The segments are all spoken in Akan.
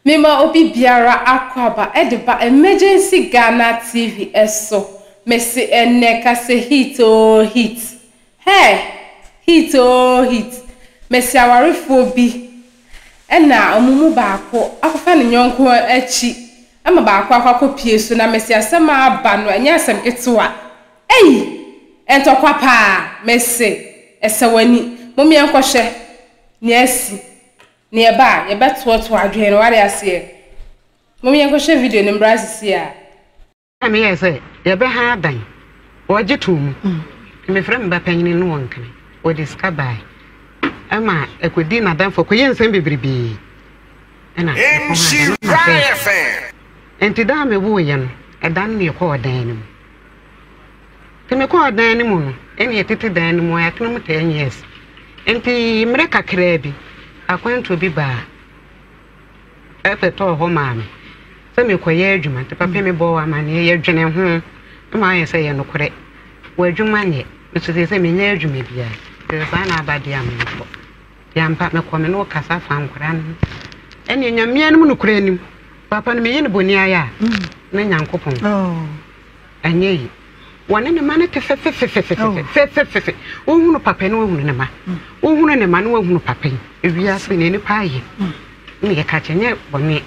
Mema obi biara akwaaba de ba Emergency Ghana TV so Mese ɛnnɛ ka sɛ hit oo hit Hey! Hit oo hit Mese awarefoɔ bi na wɔn mu baako akɔfa ne yɔnko akyi ma baako akɔ akɔpue so na mese asɛm a aba no ɛnyɛ asɛm ketewa Ei! Ntɔkwa paa Mese ɛsɛ w'ani Mom yɛnkɔhwɛ nea asi Nea ɛba a, yɛbɛtoatoa adwene no, wate aseɛ. Mom yɛnkɔhwɛ video no mmra sesie ara. Ɛna me yɛɛ sɛ yɛbɛ ha adan wɔgye too mu na me frɛ me ba panyini ne wɔn kene wɔde sika bae ɛma ɛkɔ di na danfo kɔ yɛ nsɛm bebrebee ɛna ɛkɔ ha adan no ma fɛɛ ɛnti da a me woo yɛ no ɛdan no me kɔɔ dan no mu. Ntsi mekɔɔ dan no mu no, nna yɛtsetse dan no mu, yɛatsena mu ten years. Ntsi mber kakra bi, akwantu bi baa bɛbɛtɔɔ hɔ maa me sɛ merekɔyɛ edwuma. Ntsi papa mebɔɔ amanneɛ, yɛdwenee ho ma ɔayɛ sɛ yɛ nokorɛ, w'edwuma nnyɛ. Me so sesei mennyɛ edwuma biara, ntsi sɛ saa na aba de a menkɔ. Ntsi ampa mekɔ, me no wo kasa fa nkora no ho. Ɛnneɛ Nyame anom nokorɛ nim, papa no meyɛ no boni ayɛ a, na Nyankopɔn. Anyɛ yi, wɔne ne ma no te fefefefefefefefefefe. Wohunu papa na wohunu ne ma. Wohunu ne ma na wohunu papa yi. Ewiase yi na nipa ayɛ. Na yɛka kyɛ nyɛ bɔne.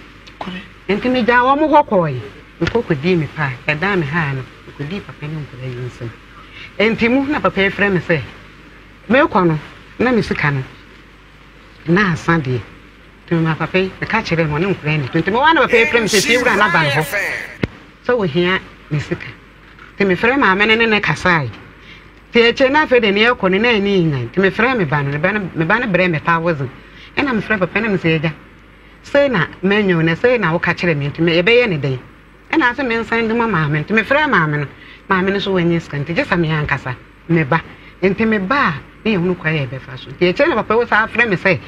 Nti megyaa wɔn hɔ kɔɔe. Mekɔ kɔdii me paa. Ɛdaa me haa no, mekɔdii papa ne nkwadaa yi nsam. Nti mu na papa yi frɛ me sɛ, mekɔ no na me sika no, na asa deɛ. Ntsi maa papa yi bɛka kyerɛɛ me, ɔnye nkora nnyi do ntsi mowaa na papa yi frɛɛ me sɛ fie wura na ba no hɔ sɛ ohia me sika. Ntsi mefrɛɛ maame no ne no kasaae. Ntsi ekyir no afei de nea ɔkɔ no na enyi nnyae ntsi mefrɛɛ me ba no, me ba no me ba no brɛɛ me paa wodzen. Nna mefrɛ papa no na mese egya sei na manya o na sei na woka kyerɛɛ me ntsi yɛbɛyɛ no dɛn? Nna ɔse mensan ndwuma maame no ntsi mefrɛɛ maame no, maame no so oennya sika ntsi gyesa me ankasa. me ba. Enti me ba a, na yɛhunu kwan a yɛbɛfa so. Nti akyire na papa yi san frɛ me sɛ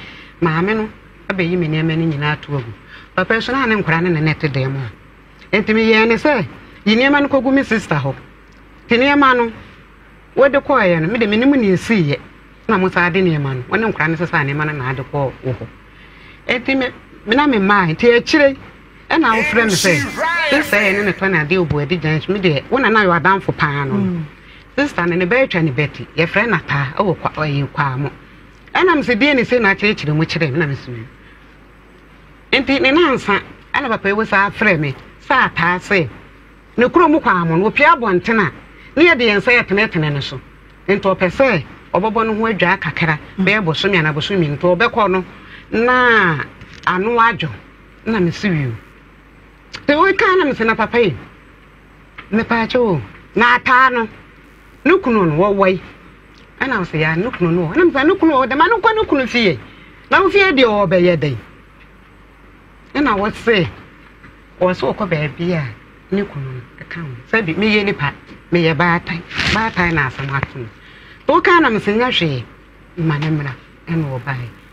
maame no bɛyi me nneɛma no nyinaa ato agu. Papa yi so na ne nkwadaa no ne no te dan mu hɔ. Enti meyɛɛ ne sɛ yi nneɛma no kɔgu me sista hɔ. Nti nneɛma no wɔde kɔeɛ no, me de menim nea ɛsiiɛ na mosan de nneɛma no, wɔne nkwadaa no sesaa nneɛma no na ade kɔɔ wo hɔ. Enti me na memaeɛ. Nti akyire yi, ɛna wofrɛ me sɛ sista yɛ ne ne tɔ ne adeɛ obu adi gyan so me deɛ wo na na yɛ adamfo paa no mm. sista no ne bɛatwa ne bɛti yɛfrɛ no ataa ɛwɔ ɛyɛ kwaa mo ɛna me sɛ deɛ ne sɛ na akyerɛkyerɛ mu kyerɛ me na mesoma nti ne nansa ɛna papa ewu saa frɛ me sɛ ataa sɛ ne kuro mu kwaa mo no opia abɔnten a ne yɛde yɛn nsa yɛtenetene no so nti ɔpɛ sɛ ɔbɛbɔ no ho adwaa kakra mm. bɛyɛ bosome anaa bosome nti ɔbɛkɔ no na ano adwo na me se wio te wo kan na me se na papa yi me paache o na ataa no no kunu no wo wai ɛna wo se ya no kunu no na me se no kunu o dema no kwa no kunu fie na wo fie deɛ o bɛyɛ dɛn ɛna wo se wo se okɔ baabi a ne kunu no ɛka ho sɛ bi meyɛ nipa meyɛ baatan baatan na asɛm ato no to kan na me se nya hwee ma ne mmra ɛna ɔbae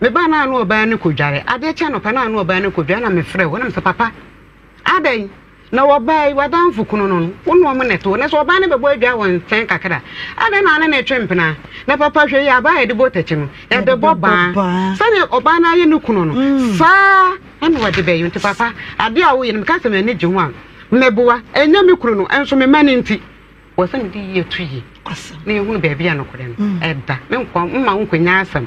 Mebaa na ano ɔbaa no kɔdware. Adeɛ kye anɔpa na ano ɔbaa no kɔdware na mefrɛ wo na mesɛ papa adɛn na wɔbaa yi w'adamfo kunu no no wo ne wɔn na ɛto na sɛ ɔbaa no bɛbɔ adwa wɔ nkyɛn kakra adɛn na ane na ɛtwe mpena na papa hwɛ yi abaa yɛde bɔ takyi no yɛde bɔ baa sɛdeɛ ɔbaa no ayɛ ne kunu no mm. saa ɛna wɔde bɛyɛ nti papa adeɛ a woyɛ no meka sɛ m'ani gye ho a mɛboa ɛnyɛ me kunu no ɛnso me ma no nti wɔ sɛ mede yie to yie na yɛhunu baabi a nokorɛ no mm. ɛda menkoa mma wo nkɔnya asɛm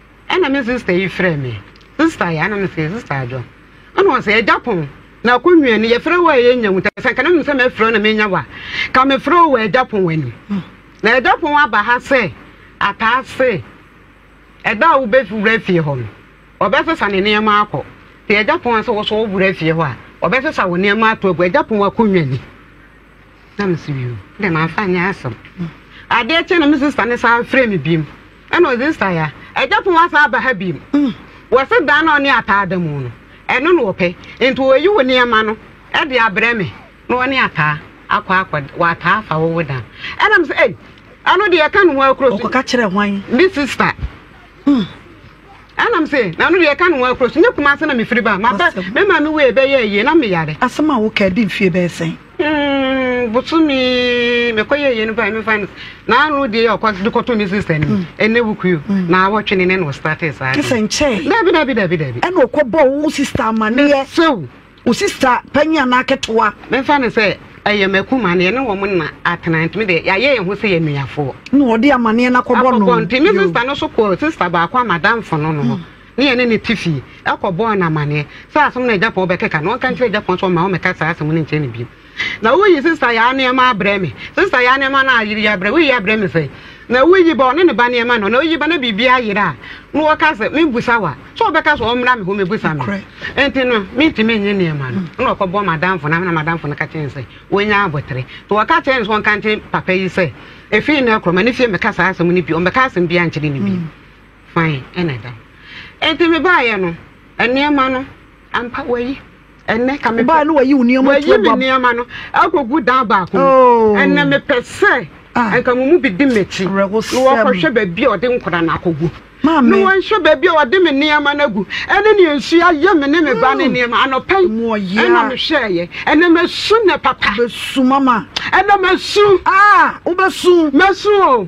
Ɛna me sister yi frɛ me sister yɛ ana no sɛ sister adwo ɛna ɔsɛ ɛgya pɔn na akɔ nwiɛ no yɛfrɛ wɔ a yɛ nya mu tɛ sɛ nka na nim sɛ mɛfrɛ na menya wa ka mefrɛ wɔ ɛgya pɔn wɔ anim hmm. na ɛgya pɔn aba ha sɛ ataa se ɛda a wobɛwura fie hɔ no ɔbɛsesa ne nneɛma akɔ te ɛgya pɔn a sɛ wɔsɔ wowura fie hɔ a ɔbɛsesa wo nneɛma ato agu ɛgya pɔn akɔ nwiɛ ni na me se bio dɛ mamfa nyɛ asɛm adeɛ kye na me sista ne san frɛ me biom ɛna ɔdze sista ya agya pon wasan aba ha biom mm. wɔse dan na ɔne ataa da mu no ɛno na ɔpɛ nti wɔyi wo nneɛma no ɛde abrɛ me na ɔne ataa akɔ akɔ wɔataa afa wowo dan ɛna me sɛ ei ɛno deɛ ɛka ne ho akuro so ɔkɔka kyerɛ hwan me sista mm. anam se na no deɛ ɛka ne ho akuro so nyɛ kumase na mefiri ba maba me maame wei bɛyɛ yie na meyare asɛm a woka di mfie bɛyɛ sɛn mm, bosome mekɔyɛ yie no bae mefa no na ano deɛ yɛ ɔkɔ de kɔto me sister no mm. ɛnɛ wukuo mm. na awɔtwe ne ne na ɔstate saa te sɛ nkyɛe dabi dabi dabi dabi ɛna ɔkɔbɔ wo sister amaneɛ sew Wo sista panyin anaa ketewa? Memfa no sɛ ɛyɛ m'akuma no, yɛne wɔn nna atena, nti me deɛ, yɛayɛ yɛn ho sɛ yɛn nuafoɔ. Na ɔde amaneɛ no akɔbɔ no. Akɔbɔ, nti me sista no nso kɔɔ sista baako a m'adamfo no no hɔ, ne yɛne no te fie, kɔbɔɔ no amaneɛ sɛ asɛm no a Japan bɛkeka no, ɔnka nkyerɛ Japan sɛ ɔmma wɔmmɛka saa asɛm no nkyerɛ no bio. Na woyi sista Yaa nneɛma abrɛ me. Sista Yaa nneɛma no a yere abrɛ, woyi abrɛ me sɛn? Na woyi ba, ɔne ne ba nneɛma no, na oyi ba na biribi ayera a, na ɔka sɛ, Mimbusa wo a, sɛ ɔbɛka sɛ ɔmmra me hɔ mmebusa me. Enti no, mintumi nnye nneɛma no. Ɛnna ɔkɔbɔɔ m'adamfo no ama, na m'adamfo no ka kyerɛɛ no sɛ, Woanya abotere. Enti wɔka kyerɛɛ no sɛ ɔnka nkyerɛ papa yi sɛ, Efi nnɛ rekɔ, mma ne fie mmɛka saa asɛm no bio. Ɔmmɛka asɛm biara nkyerɛ no bio. Fann na ɛda hɔ. Enti mebaeɛ no, nneɛma no, ampa, wɔayi. Ɛnnɛ, ka mepɛ. Wobae no wayi wo nneɛma ato aguab. Wayi me nneɛma no akogu dan baako mu. Oh. Ɛnnɛ mepɛ sɛ. Ah. Nka mo mu bi di m'akyi. Na wɔkɔhwɛ baabi a ɔde nkora no akogu. Maame. Na wɔnhwɛ baabi a ɔde me nneɛma no agu. Ɛne nea nsu ayɛ me ne me ba ne nneɛma. Anɔpa yi. Mu ɔyea. Ɛna mehwɛeɛ. Ɛnnɛ masu nnɛ papa. Bɛsu mama. Ɛnnɛ masu. Ah, wobɛsu. Masu o.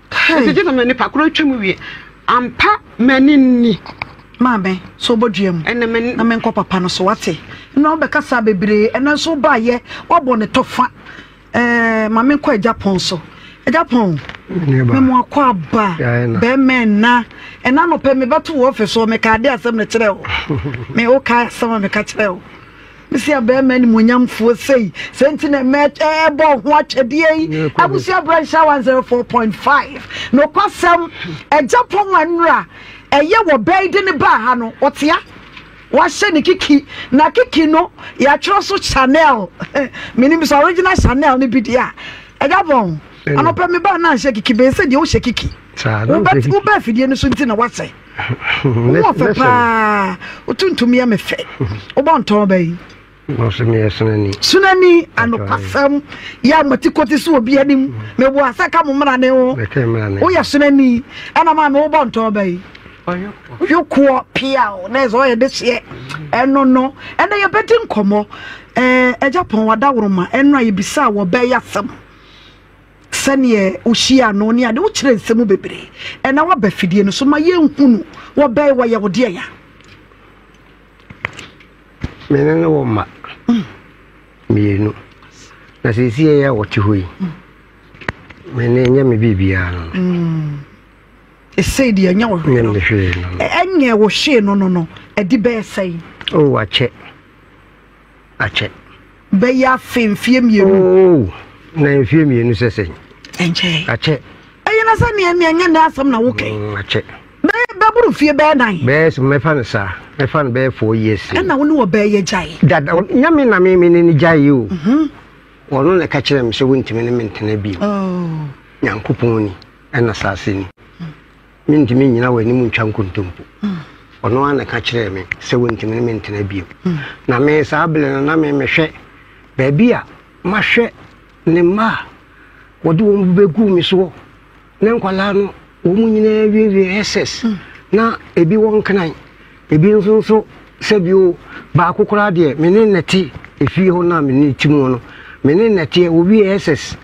Kai. Mese Jesus na nipa koro atwa mu wie. Ampa m'ani nni. Maame, so bɔ dua mu. Ɛnɛ m'ani. Na menkɔ papa no so wate. Na wobɛka saa bebree. Ɛnɛ nso wobaayɛ wabɔ ne tɔfa. Ɛɛ ma menkɔ agya pɔn so. Agya pɔn. Memo akɔ aba. Bɛmɛ nna. Ɛna nɔpɛ mebɛto wɔ ɔfɛ so meka ade asɛm no kyerɛ wo. Me woka asɛm a meka kyerɛ wo. Mese abarima animuonyamfoɔ sei, sɛ nti na mɛbɔ ho atwɛdeɛ yi. Abusua berɛ nhyɛ 104.5. Nokwasɛm, agya pɔn a nnura ɛyɛ wɔ bɛyi de ne baa ha no, ɔtea. Wahyɛ ne kiki, na kiki no yɛatwerɛ so Chanel. Menim sɛ original Chanel no bi deɛ a, agya pɔn. Anɔpɛ me baa na anhyɛ kiki, bɛyɛ sɛ deɛ wohyɛ kiki. Wobɛ afidie no so nti na wasɛ. wowɔ fɛ paa wotontom yɛ me fɛ wobɔ ntɔn bɛyi sunani anokwasɛm yɛ amatikoti so obi anim mebo asɛ ka mo mmara ne ho woyɛ sunani ɛna maa me wobɔ ntɔn bɛyi yokoɔ pia o na ɛsɛ ɔyɛ de hyeɛ ɛno no ɛnɛ yɛbɛdi nkɔmmɔ ɛgya pɔn wadaworoma ɛno a yɛbisa a wɔbɛyɛ asɛm sɛdeɛ wohyia no ne ade wokyerɛ nsɛm bebree ɛna waba fidie no so ma yɛnhu no wɔbɛn wɔyɛ wo deɛ ya mene ne wɔ mma mm. mmienu na sɛsi ɛyɛ a wɔte hɔ yi mm. mene nyɛ me biribiaa no mm. ɛsei deɛ ɛnyɛ wo hwee no ɛnyɛ wo hwee no no no ɛde bɛɛ sɛe oh, wakyɛ akyɛ. Bɛyɛ afe mfeɛ mmienu. Oo na mfeɛ mmienu sɛ sɛn. Ɛnkyɛ. Akyɛ. Ɛyɛ na sɛ neɛ neɛ nyɛ ne asɛm na wokɛ. Mm, akyɛ. Bɛyɛ bɛboro fie bɛyɛ nan. Bɛyɛ so mɛfa no saa mɛfa no bɛyɛ four years. Ɛna wo ne wɔ bɛyɛ yɛ gyae. Dada nyame na me me ne ne gyae yi o. Mhm. Wɔn na ɛka kyerɛ me sɛ wontumi ne me ntena bi. Oh. Nyankopɔn ni ɛna saase ni. Mentumi nnyina w'anim ntwa nkontompo. Ɔno ara na ɛka kyerɛɛ me sɛ wɔntumi ne me ntena bio. Na me saa bere no na me mehwɛ baabi a mahwɛ ne mma a wɔde wɔn bɛgu me soɔ ne nkwadaa no wɔn nyinaa wiewie SS na ebi wɔ nkenan ebi nso nso sɛ bio baako koraa deɛ me ne nnɛte efie hɔ no a me ne ti mu no me ne nnɛteɛ wɔwie SS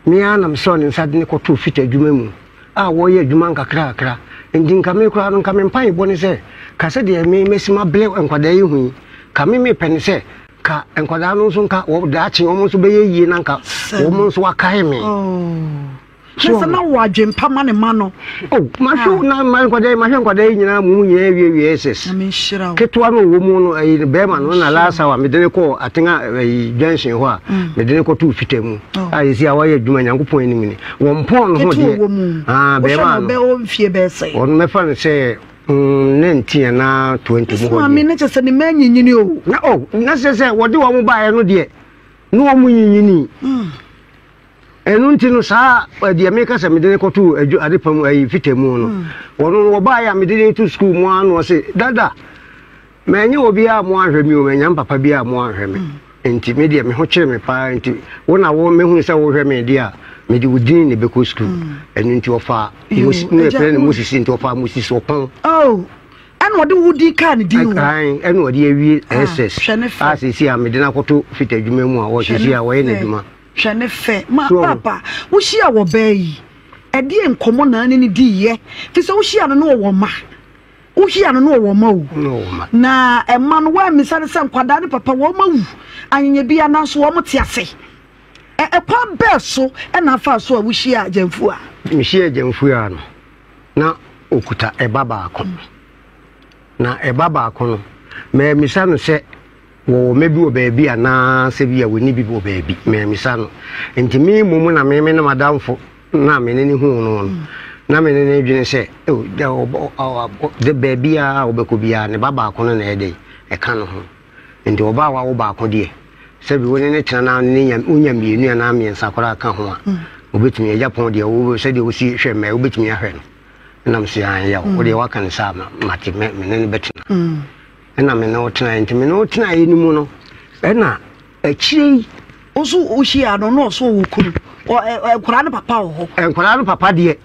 Me ara na mesɔɔ ne nsa de no kɔtoo Fita adwuma mu a wɔreyɛ adwuma nkakrakra. Enti nka me koraa no, nka me mpaebɔ ne sɛ, Ka sɛdeɛ me masi mabrɛ nkwadaa yi ho yi. Ka me mepɛ ne sɛ, ka nkwadaa no nso nka wɔ daakye wɔn nso bɛyɛ yie na nka wɔn nso akae me. Oh. Kyerɛ sɛ na ɔwɔ adwempa ma ne ma no. Oh, mahwɛ ah. na ma nkwadaa mahwɛ nkwadaa yi nyinaa mu nyinaa awie wie ss. Ketewa no wɔ mu no ayi eh, bɛrima no na last hour mede ne kɔ atena ayi eh, junction hɔ a mm. mede ne kɔto fita mu. Oh. A ah, yɛsi a wayɛ adwuma Nyankopɔn anim ni. Wɔn pɔn no ho deɛ. Ah, bɛrima no. Wɔn mɛfa no sɛ Mm, ne nteɛ na twenty mu hɔ maame ne kyɛ sɛ ne mmaa nyinyini o na o oh, na sɛ sɛ wɔde wɔn baeɛ no deɛ ne wɔn nyinyini hmm. ɛno nti no saa deɛ meka sɛ mede no kɔto adwo ade pa mu ayi fita mu no hmm. wɔno no wɔbaeɛ a mede no to sukuu mu ano ɔse dada manyɛ obiaa mo anhwɛ me o manya mpapa bi a mo anhwɛ me hmm. nti me deɛ me ho kyere me paa nti wo na wo mehunu sɛ wohwɛ me deɛ a mede wo din ne bɛkɔ sukuu hmm. ɛno nti ɔfa ne ɛfrɛ ne moses nti ɔfa moses ɔpɔn oh, ɛna ɔde wo di kaa ne din kan ɛna ɔde awie ah, ss a sɛsi a mede no akɔto fita adwuma mu a wɔsɛsi a wɔyɛ n'adwuma Hwɛ ne fɛ. Ma so. papa, wohyia wɔ bɛɛ yi. Ɛdeɛ nkɔmmɔ na ne ne di yɛ. Fi sɛ wohyia no no wɔ wɔn ma. Wohyia no no wɔ wɔn ma o. Na ɛma no wɔammisa no sɛ nkwadaa ne papa wɔn ma wu. Anyanya bi ananso wɔn te ase. Ɛ ɛkwan bɛɛ so ɛna afa so a wohyia gyamfu a. Mehyia gyamfu a no. Na okuta ɛba baako. Na ɛba baako no, mɛmmisa no sɛ Wɔwɔ mmɛ bi wɔ baabi anaasɛ bi a wɔnni bi wɔ baabi. Mammisa no. Enti me mmom na me me ne m'adamfo no a me ne no huu no no, na me ne no dwene sɛ, oh, da ɔbɔ, ɔbɔ, de baabi a ɔbɛkɔ biara ne ba baako no na ɛyɛ dɛ, ɛka no ho. Enti ɔba a wawo baako deɛ, sɛ bi wo ne no tena na ne nya, wonya mmienu anaa mmiɛnsa koraa ka ho a, wobɛtumi, agya pɔn deɛ, wo, sɛdeɛ wosi hwɛ mmɛ, wobɛtumi ahwɛ no. Ɛnam se, ae, yaw, wo deɛ woaka no saa, ma, mate, mɛ, me ne no bɛtena. ɛna me ne wo tenaeɛ nti me ne wo tenaeɛ no mu no ɛna akyire yi nso wohyia no na ɔsɛ ɔwɔ kunu nkwadaa no papa wɔ hɔ nkwadaa no papa deɛ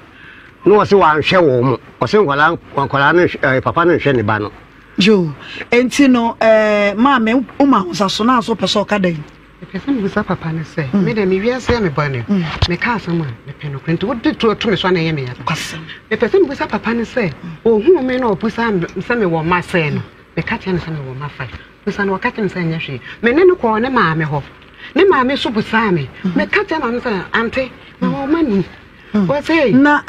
na ɔsɛ wanhwɛ wɔn mo ɔsɛ nkwadaa nkwadaa no papa no nhwɛ ne ba no yo nti no ɛɛ maame woma ahosaso na nso pɛ sɛ ɔka dɛn Mepɛ sɛ mebisa papa no sɛ, mm. me dɛ me wiase a mebɔ no, mm. meka asɛm a mepɛ nokorɛ nti wode to to me so ana ɛyɛ meyɛ papa. Mepɛ sɛ mebisa papa no sɛ, ɔhuu mm. me na ɔbusa sɛ mewɔ mma sɛe no, meka kyerɛ no sɛ mewɔ mma fae. Busa no ɔka kyerɛ me sɛ ɛnyɛ hwee. Me ne no kɔɔ ne maame hɔ. Ne maame so busaa me. Meka kyerɛ maame sɛ, ante, mewɔ mma ni. na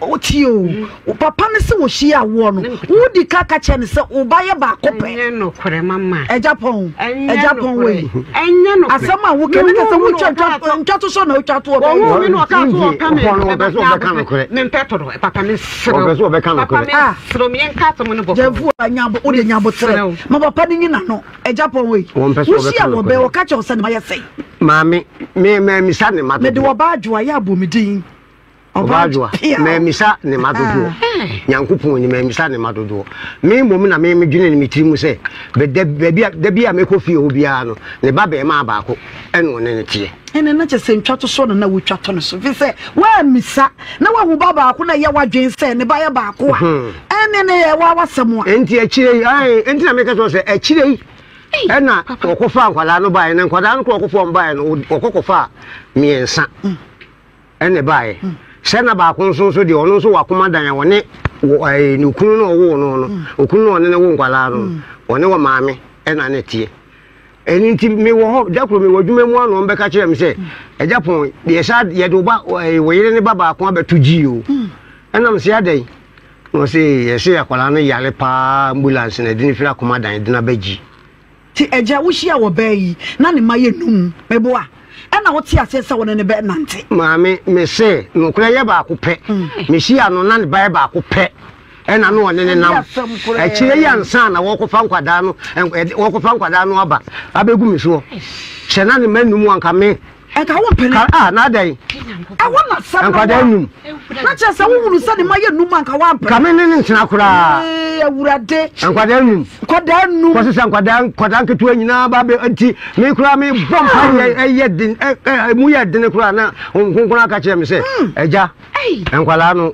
wotie o wo papa no sɛ wɔhyia awoɔ no wodi ka ka kyerɛ no sɛ wo ba yɛ baako pɛ agya pɔn agya pɔn wei asɛm a woka ne ka sɛ wotwa ntwa to so na wotwa toɔ bɛyɛ gyamfo a wode nyaboterɛ ma papa no nyina no Agya pɔn wei. Wɔn pɛ so wɔbɛka Wohyia no wɔ bɛn kɔ. wɔka kyerɛ wo sɛ ne ma yɛ sɛn. Maame, me maamisa ne ma Mede dodoɔ. ɔbaa adwoa yɛ abɔ me din. Ɔbaa adwoa, pia. maamisa ne ma dodoɔ. Nyankopɔn ni, maamisa ne ma dodoɔ. Me mmom na me medwene ne me tiri mu sɛ, bɛ- da- baabi a- da bi a mɛkɔ fie hɔ biara no, ne ba bɛɛmaa baako. ɛna ɔne no teɛ. ɛna na kyɛ sɛ ntwatosoɔ na na wotwa to no so fi sɛ woammisa na woahu ba baako na ɛyɛ w'adwene sɛ ne ba yɛ baako a hmm. ɛne ne yɛ wa wasɛm a ɛnti akyire yi ɛnti na meka kyerɛ sɛ akyire yi ɛna wɔkɔfa nkwadaa no baeɛ na nkwadaa no korɔ wɔkɔfa baeɛ no wɔkɔkɔfa mmiɛnsa hmm. ɛne baeɛ hmm. sɛ na baako nso nso deɛ ɔno nso wakoma dan a wɔne ne okunu no ɔwoo no no okunu no ɔne ne wo nkwadaa no ɔne wɔ maame ɛna ne teɛ Ɛno nti mewɔ hɔ, da koro mewɔ adwuma mu ano, ɔmbɛka kyerɛ me sɛ, Agya Pɔn, deɛ saa yɛde wo ba eh, wo yere ne ba baako abɛto gyii o. Ɛnam se adɛn? Na ɔse, yɛse akwadaa no yare paa, ambulance na ɛde no firi akoma dan de no aba gyi. Ti agya wohyia wɔ baa yi na ne ma yɛ num meboa ɛna wote aseɛ sɛ wone ne bɛ nante. Maame mese nokora yɛ baako pɛ. Mehyia no na ne ba yɛ baako pɛ. ɛna no ɔne ne nam akyire yi ansa na wɔkɔfa nkwadaa no wɔkɔfa nkwadaa no aba abɛgu me soɔ hyɛ na ne ma num anka me ɛka wo mpene a ah, na adɛn ɛwɔ na sɛm nkwadaa num na kyerɛ sɛ wohunu sɛ ne ma yɛ num anka woampɛ ka me ne ne ntena koraa awurade nkwadaa num nkwadaa num kɔse sɛ nkwadaa nkwadaa nketewa nyinaa ba bɛ nti me koraa me bɔ mpa ah. ɛyɛ den ɛmu yɛ dene koraa na nkonkona aka kyerɛ me sɛ hmm. agya nkwadaa no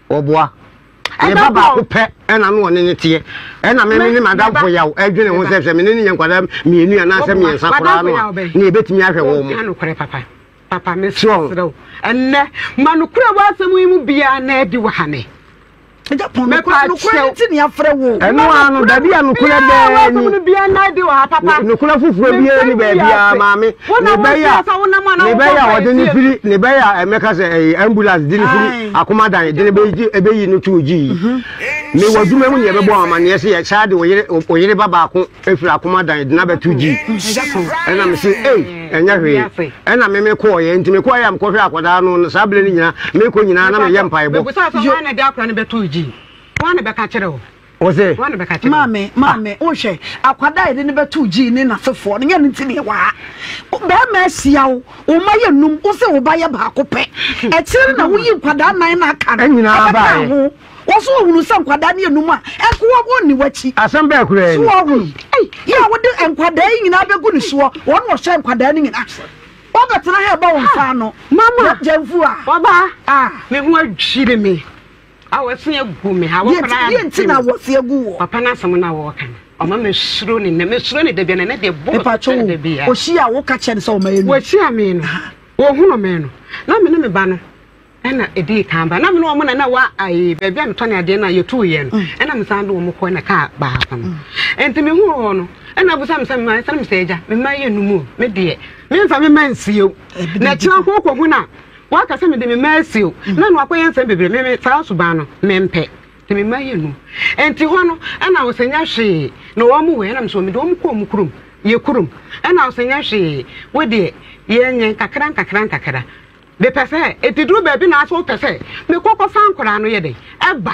Ɔboa. Ne ba baako pɛ ɛna no ɔne ne teɛ. Ɛna me ne madamfo yaw ɛdwene ho sɛ sɛ me ne ne yɛ nkwadaa mmienu anaasɛ mmiɛnsa koraa no a ne yɛbɛtumi ahwɛ wɔn mo. Papa mesrɛ wo ɛnnɛ ma nokorɛ w'asɛm yi mu biara na adi wɔ ha ne ɛno a no dabi a nokorɛ bɛɛ ni nokorɛ foforɔ biara ni baabiara maame ne bɛyɛ a ne bɛyɛ a ɔde ne firi ne bɛyɛ a ɛmɛka sɛ ɛyɛ ambulance de ne firi akoma dan de no bɛyi no too gyi yi me wɔ adwuma mu ne yɛbɛbɔ wɔn amanneɛ sɛ yɛsaa de oyere ba baako afiri akoma dan de no abɛto gyi ɛna me se ei ɛnyɛ hwee ɛna me mekɔɔyɛ nti mekɔɔyɛ a mekɔhwɛ akwadaa no no saa berɛ no nyinaa mekɔ nyinaa na meyɛ mpaebɔ Ɔse, Maame, maame, wohwɛ, akwadaa yɛde no bɛto gyii ne n'afefoɔ no, nyɛ no nti ne ɛwɔ ha. Bɛrima asia wo, wo mma yɛ num, wo se wo ba yɛ baako pɛ. Akyire no na woyi nkwadaa nan na aka no ɛbɛka ho. Wɔ so ɔhunu sɛ nkwadaa no yɛ num a, ɛnko wɔ wɔn ni wakyi. Asɛm bɛɛ kura yɛ ni. So ɔhunu, yɛ a wode nkwadaa yi nyinaa bɛgu ne soɔ, wɔn wɔ hyɛ nkwadaa no nyinaa. Wɔbɛtena ha ɛbɔ wɔn nsa ano. Mama, gyɛnfu a. Ɔbaa, ah. Me ho adwiri me. Awɔse agu me ha wɔkora ade. Deɛ nti na awɔse agu wɔ. Papa n'asɛm na wɔka no. Ɔma me suro ne nɛ me suro ne da bia na ne deɛ bɔ. Mepa kyɛ wo. Wɔsi a wɔka kyɛ ne sɛ ɔma yɛ. Wɔsi a me no. Wɔhunu me no. Na me ne me ba no. Ɛna ɛdi kan ba. Na me ne wɔn na na wa ayi baabi a metɔ ne adeɛ na yɛtu yɛ no. Ɛna me san de wɔn kɔ na kaa baako no. Ɛnti me hu wɔn no. Ɛna abusa me sɛ me ma ɛsɛ me sɛ ɛgya. Me ma yɛ numu. Me deɛ. Me nfa me ma nsie. Na kyerɛ ho kɔ ho na. Waka sɛ, Mede me mma asi o, na ɛno akɔyɛ nsɛm bebree. Me, me, saa suban no, mempɛ. De me mma yɛ num. Enti hɔ no, ɛna ɔsɛ nyɛ hwee, na wɔn wɔ, ɛna me nso, mede wɔn kɔ wɔn kurom. Yɛ kurom. Ɛna ɔsɛ nyɛ hwee, wo deɛ, yɛnyɛ nkakra nkakra nkakra. Mepɛ sɛ, enti duru baabi na asɛ wopɛ sɛ, mekɔ kɔfa nkwadaa no yɛ dɛn? Ɛba.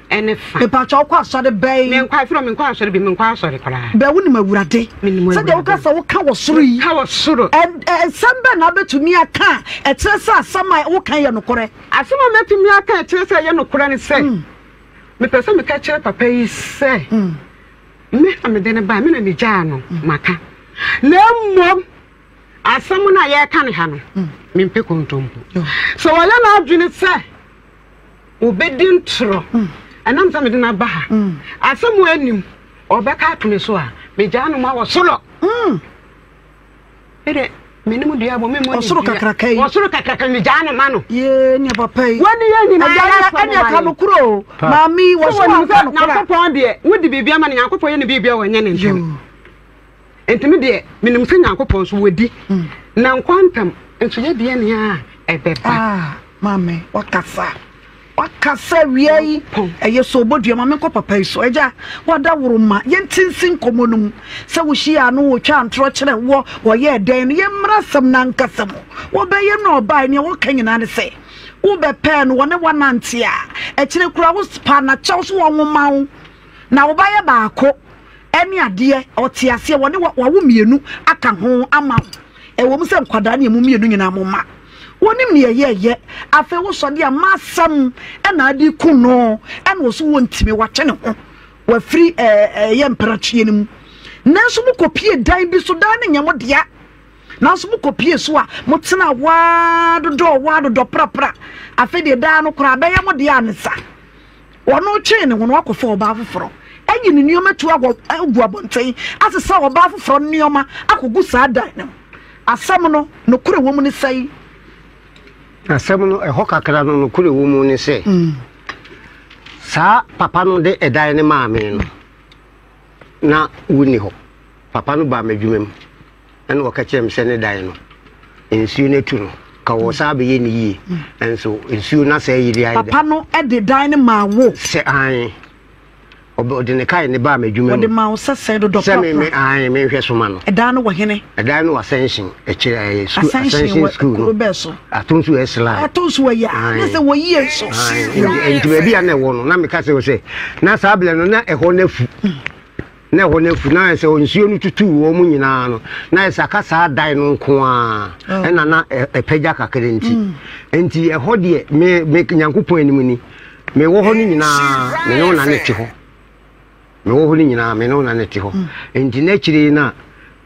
ɛne fa. Mepatwa wokɔ asɔre bɛn. Menkɔ afiri a menkɔ asɔre bi menkɔ asɔre koraa. Bɛ wonim awurade. Menim awurade. Sɛdeɛ woka sɛ woka wɔ soro yi. Ka wɔ soro. Nsɛm bɛn na wobɛtumi aka a ɛkyerɛ sɛ asɛm a woka yɛ nokorɛ. Asɛm a mɛtumi aka a ɛkyerɛ sɛ ɛyɛ nokorɛ ne sɛ hmm. mepɛ sɛ meka kyerɛ papa yi sɛ hmm. me na mede no baa me na megyaa no hmm. maka na mmom asɛm no a yɛreka ne ha no mempɛ kontompo sɛ wɔyɛ no adwene sɛ obedi ntoro ɛnam sɛ mede no aba ha asɛm a anim ɔbɛka ato me so a megyaa no mu awɔ soro ɛdɛ menim dua bɔ memmɔ ɔsoro kakraka yi ɔsoro kakraka megyaa no ma no yee ne papa yi wɔne yɛ nyinaa ɛne aka no kuro maame wɔsoro nyankopɔn deɛ wode biribi ama no nyankopɔn yɛ ne biribi a wɔnyɛ ne ntɛm Enti me deɛ, menim sɛ Nyankopɔn nso wadi, na nkwa ntam nso yɛ deɛ nea ɛbɛba. Ah, maame, wakasa. Wakasa wia yi. Ɛyɛ so obodua ma menkɔ papa yi so. Agya, wada woro ma yɛnte nsi nkɔmmɔ no mu. Sɛ wohyia no, wotwa ntorɔ kyerɛ wɔ, wɔyɛɛ dɛn no, yɛmmra asɛm no ankasa mu. Wɔbɛyɛ no ɔbae, nea wɔka nyinaa ne sɛ, wobɛpɛɛ no, wɔne woanante a, akyire koraa, wopaa no akyɛw so wɔnwoma wo, na wobayɛ baako. ne adeɛ, ɔte aseɛ, wɔne wa- wawo mmienu aka ho ama wo. Ɛwɔ mu sɛ nkwadaa ne ɛmu mmienu nyinaa mo mma. Wonim ne ɛyɛɛyɛ. Afei wosɔ de a masɛm ɛna ade ku no ɛna wɔ so wɔntumi watwe ne ho wafiri ɛyɛ mprakyeɛ no mu. Nanso mo kɔpie dan bi so dan no nyɛ mo dea. Nanso mo kɔpie so a mo tena waa dodɔ waa dodɔ prapra. Afei deɛ dan no koraa bɛyɛ mo dea ne sa. Wɔretwe ne ho no, akɔfa ɔbaa foforɔ, ayi ne nneɛma tu akɔ agu abɔnten, asesa ɔbaa foforɔ nneɛma akɔgu saa dan no mu. Asɛm no, nokorɛ wɔ mu ne sɛn? Asɛm no, ɛhɔ kakra no, nokorɛ wɔ mu ne sɛ, saa papa no de ɛdan no maa me no, na wonni hɔ. Papa no baa m'adwuma mu, ɛna ɔka kyerɛ me sɛ ne dan no nsuo no atu no ka wɔ saa bɛyɛ ne yie nso nsuo no asɛ yiri ayɛ papa no de dan no maa wo sɛ an ɔde ne kae ne baa m'adwuma mu ɔde maa wo sɛ sɛ dodɔ papa sɛ me an menhwɛ soma no ɛdan no wɔ hene ɛdan no wɔ asɛnhyen ɛkyerɛ ɛyɛ sukuu asɛnhyen sukuu no bɛɛ so ato nso yɛ sila ato nso wɔ yɛ ne sɛ wɔ yie nso nti baabi a na ɛwɔ no na meka sɛ wɔ sɛ na saa abirɛ no na ɛhɔ no afu Na ɛhɔ no afu, na ayɛ sɛ nsuo no tutuu wɔn nyinaa no, na ayɛ sɛ aka saa dan no nko ara ɛna na ɛpagya kakra nti. Nti ɛhɔ deɛ, me, me Nyankopɔn anim ni, mewɔ hɔ no nyinaa, me ne wo na ne te hɔ. Mewɔ hɔ no nyinaa, me ne wo na ne te hɔ. Nti n'akyire no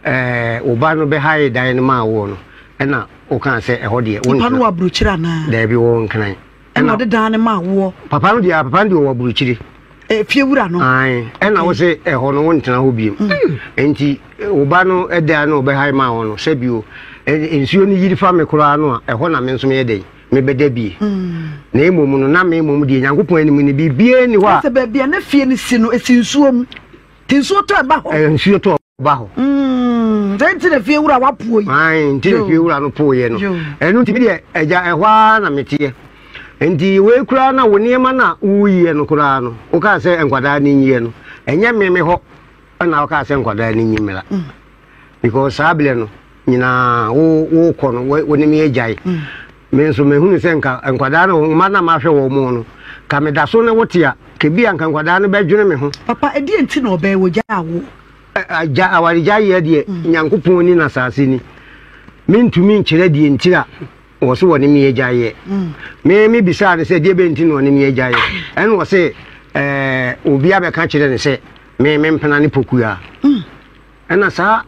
a, ɛɛ, wo ba no bɛhae dan no maa woɔ no, ɛna wokaa sɛ ɛhɔ deɛ, wo nkran. Nipa no wɔ aburokyire anaa? Daabi, wɔwɔ nkran. ɛna ɔde dan no maa woɔ. papa no deɛ papa no deɛ ɔwɔ aburokyire eh, fie wura no ɛna wo sɛ ɛhɔ no wontena hɔ biom mm. nti wo ba no ɛdan no ɔbɛhae maa hɔ no sɛ bio nsuo no yiri fa me koraa no a ɛhɔ na me nso meyɛ dɛn mebɛda bie mm. na mmom no na me mmom deɛ nyankopɔn anim no biribiaa ni hɔ a sɛ baabi a na fie no si no ɛsi nsuo mu nti nsuo tɔ ɛba hɔ nsuo tɔ ba hɔ. Mm, sɛ nti na fie wura wa puo yi. Ayi nti na fie wura no puo yɛ no. Ɛnu ti bi deɛ ɛgya ɛhɔ ara na meteɛ. Nti wei koraa na wo nneɛma na woyɛ no koraa no wokaa sɛ nkwadaa no nyiɛ no ɛnyɛ me me hɔ ɛna wokaa sɛ nkwadaa no nyi mmera mm. because saa berɛ no nyinaa wokɔ no wo ne me agyae mm. Me nso mehunu sɛ nka nkwadaa no mma na mahwɛ wɔn mu no ka meda so ne wo te a kebi anka nkwadaa no bɛdwene me ho. Papa ɛdeɛ nti na ɔbɛɛ wɔ gya awo. Agya awaregya yɛ deɛ mm. nyankopɔn ni na saase ni mentumi nkyerɛ deɛ ntira wɔ so wɔ ne meyɛ gya yɛ mm. me me bisaa ne sɛ deɛ bɛ nti na ɔne meyɛ gya yɛ ɛna wɔ sɛ obi abɛka kyerɛ ne sɛ me mempena ne pokua mm. Ɛna saa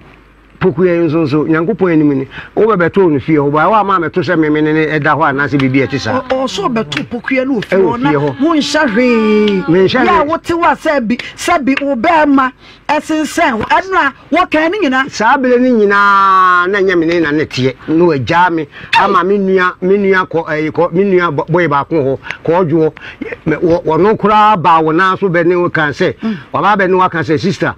pokuɛ yi nso nso nyankopɔn anim ni wobɛbɛtoo no fie hɔ baɛ woama meto sɛ meme ne ne ɛda hɔ anaasɛ biribi ɛte saa ɔsɛ ɔbɛto pokuɛ no ofie hɔ na wonhyɛ hwee yɛ a wote wo a sɛ bi sɛ bi wo bɛɛma ɛsensɛn hɔ ɛno a wɔkan no nyinaa saa berɛ no nyinaa na ɛnyɛ mene na ne teɛ na wagyaa me ama me nua me nua kɔ ɛyi kɔ me nua bɔyɛ baako hɔ kɔɔdwoɔ wɔno koraa baa wɔn ara so bɛ ne wo kan sɛ mm. wɔbaa bɛ ne wo aka sɛ sista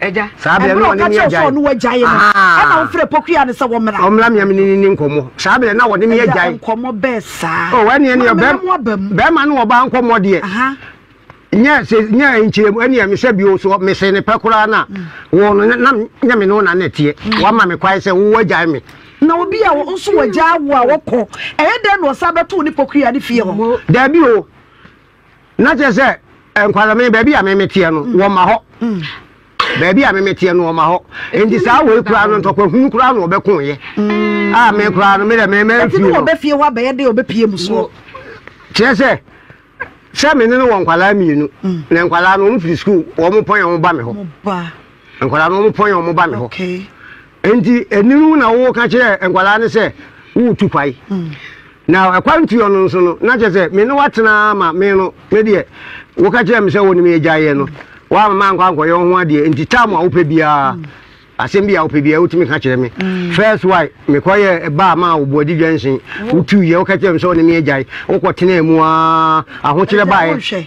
Agya. Saa berɛ no wɔne me agyae. Ɛberɛ a ɔka kyerɛ sɛ ɔno wagyae no, ɛna wofrɛ pokuyaa no sɛ wɔmmra. Wɔmmra me amene ne nkɔmmɔ. Saa berɛ na wɔne me agyae. Agya nkɔmmɔ bɛɛ saa. O ɛneɛ neɛ bɛrima ne ɔbaa nkɔmmɔ deɛ. Nyɛ sɛ nyɛ nkyerɛ mu ɛneɛ mesɛ bio so mese ne pɛ koraa na mm. wɔn no na nyɛ me ne wo na na ɛteɛ. Mm. Wama me kwae sɛ wo wagyae me. na obi a nso wagya awo a wɔkɔ ɛyɛ dɛn na ɔsa bɛto ne pokuyaa ne fie hɔ. Daabi o. na kyerɛ sɛ eh, nkwadame baabi a memeteɛ no mm. wɔma hɔ mm. baabi a memeteɛ no wɔma hɔ nti saa wei koraa no ntɔkwa hunu koraa na wɔbɛkoeɛ mm. a ah, me koraa no medɛ memamfie no wɔbɛfie hɔ abɛyɛ dɛ wɔbɛpie mu soɔ kyerɛ sɛ sɛ me ne no wɔ nkwadaa mmienu na nkwadaa no wɔn firi sukuu wɔn pɔn yɛn wɔn ba me hɔ Nkwadaa no wɔpɔn wɔn ba me hɔ. Nti ɛninu na woka kyerɛ nkwadaa no sɛ woretu kwae. Hmm. Na ɛkwan tuo no nso no na kyerɛ sɛ me ne watena ma me no me deɛ woka kyerɛ me sɛ wo ne me agyaeɛ no woama ma nkɔ ankɔyɛ wo ho adeɛ nti tam a wopɛ biara hmm. asɛm bi a wopɛ biara wotumi ka kyerɛ me hmm. first wife mekɔyɛ baa ma a wɔbɔadi dwansen wotuiɛ woka kyerɛ me sɛ wo ne me agyae wokɔtenaa mu a ahokyerɛ baeɛ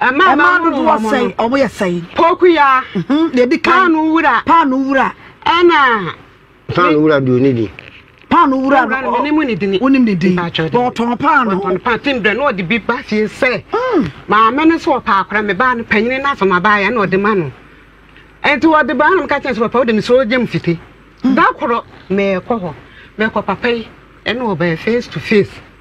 Mmaa dodoɔ sɛn? Wɔyɛ sɛn? Pokuya. Deɛ ɛdi kan. Paano wura. Paano wura. Ɛna. Paano wura deɛ ɔni din. Paano wura no ɔ wonim ne din. Wonim ne din. Ɔtɔn paano. Ɔtɔn paano tim dɛ na ɔde bi ba fie sɛ. Hmm. Maame no so ɔpa akora me baa no panyin no asoma baa yɛ na ɔde ma no. Nti ɔde baa no ka kyɛn sɛ papa wode me so gyam fiti. Hmm. Da koro mɛkɔ hɔ mɛkɔ papa yi ɛna ɔbɛn face to face.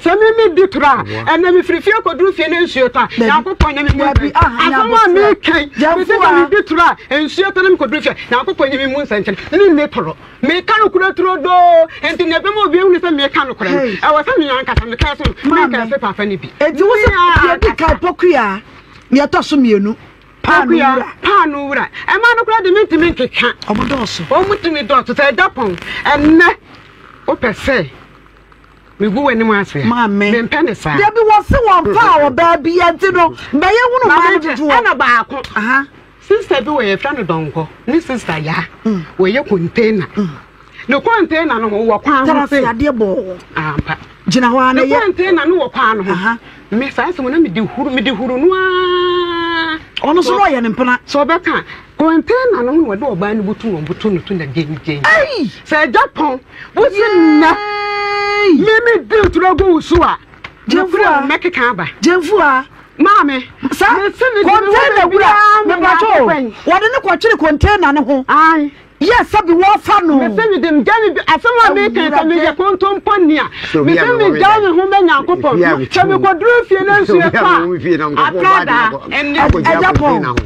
Sɛ me me di toro a, ɛnna me firi fie kɔduru fie na nsuo ta. Nyankopɔn nyɛ me mu nsɛnkyerɛ. Asɛm a me ka yi, me se sɛ me di toro a, nsuo ta na me kɔduru fie a, Nyankopɔn nyɛ me mu nsɛnkyerɛ. Me nni toro. Me ka nokorɛ turodoo. Enti nea ɛbɛma obi ahunu sɛ me ka nokorɛ no, ɛwɔ sɛ me ankasa me ka ɛso no, me ka ɛso pafa no bi. Enti wo se deɛ ɛdi kan pokuya, nea ɛtɔ so mmienu, paano wura. Paano wura. Ɛmaa no koraa de me ntumi nkeka. Ɔmo dɔɔso. Ɔmo tumi dɔɔso sɛ ɛda pɔn. Ɛnnɛ wopɛ sɛ Megu w'anim ase. Maame. Mempɛ ne saa. Dabi wɔse wɔmpa a ɔbaa bi nti no mbɛyɛ hunu maa no dodoɔ. Ɛna baako. Aha. Sista bi wɔ yɛfrɛ no dɔnkɔ ne sista yaa. Mm. Wɔyɛ container. Mm. Ne container no ho wɔ kwan ho se. Tara se adeɛ bɔɔ. Ampa. Gyina hɔ a na yɛ. Ne container no wɔ kwan no ho. Aha. Me saa asɛm na mede huru mede huru no aa. Ɔno so na ɔyɛ ne mpena. Sɛ ɔbɛka Kɔntɛna no ho na wɔde ɔbaa no butu wɔn butu no to na gyengyen. Sɛ agya pɔn wo se nnɛ mimi di turo gu wo so a, gyefua mɛkeka aba. Gyefua. Maame. Sa kɔntɛna wura mepatɔ wɔde ne kɔkyere kɔntɛna no ho. Ayi. Yɛ sɛbi wɔfa no. Mese mi de mgya mi asɛm a mi kan sɛ mi yɛ kontompo nia. Mese mi gya mi ho bɛ nyanko pɔn. Sɛ mi kɔ duro fie na nsuo pa. Atradaa. Ɛgya pɔn.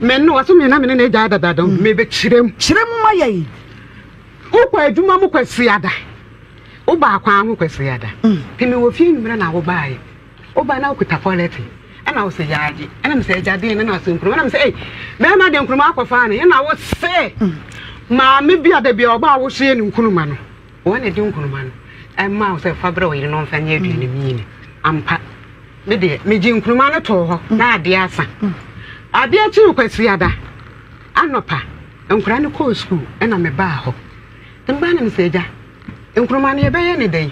Me no ɔsɛ me na me ne n'agya adada dɔm me bɛ kyerɛ mu. Kyerɛ mu ma yɛn. Wokɔ adwuma mu kwasi ada. Wo baa kwan ho kwasi ada. Te me wɔ fie nwummerɛ na wo baa yɛ. Wo baa na wo kuta pɔlɛte. Ɛna wo sɛ yaagye. Ɛna me sɛ agya deɛ ne na ɔsɛ nkuruma. Ɛna me sɛ ei bɛrima deɛ nkuruma akɔ faa ne. Ɛna wo sɛ maame bi a da bi a ɔbaa wo so yɛ ne nkuruma no. Wɔn na ɛde nkunuma no ɛmaa wo sɛ fa brɛ ɔyere na ɔmfa nyɛ aduane mu yini. Ampa. Me deɛ, megye nkunuma no too hɔ na adeɛ asa. Adeɛ akyiri kwasiada anɔpa, nkwadaa no kɔɔ sukuu ɛna mebaa hɔ. Mbaa na mesɛ agya, nkuruma no yɛbɛyɛ ne dɛn?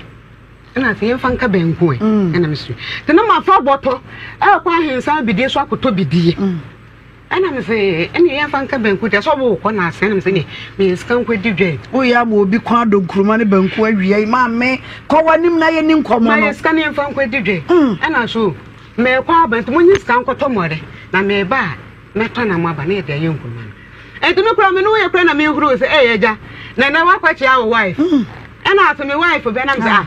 ɛna afei yɛmfa nka banku ɛ ɛna mesu. Nti na mafa bɔtɔ ɛkɔ ahensa bidie so akɔtɔ bidie. Ɛna me se ɛne yɛn fa nka banku tɛ sɛ ɔbo wokɔ na asɛn na me se ne meyɛ sika nkɔ di dwai. Wo yɛ ama obi kwan adɔ nkuruma ne banku awia yi ma me kɔ w'anim na yɛ ni nkɔmɔ no. Ma yɛ sika ne yɛn fa nkɔ di dwai. Mm. Ɛna so mɛkɔ aba nti mo nye sika nkɔ tɔ mɔre na mɛba a mɛtɔ na mo aba na yɛ de ayɛ nkuruma no. Ɛnti me kura me no yɛ kura na me huru se ɛyɛ gya na na wakɔ kyea wo wife. Mm. Ɛna ase me wife bɛ na me se ah.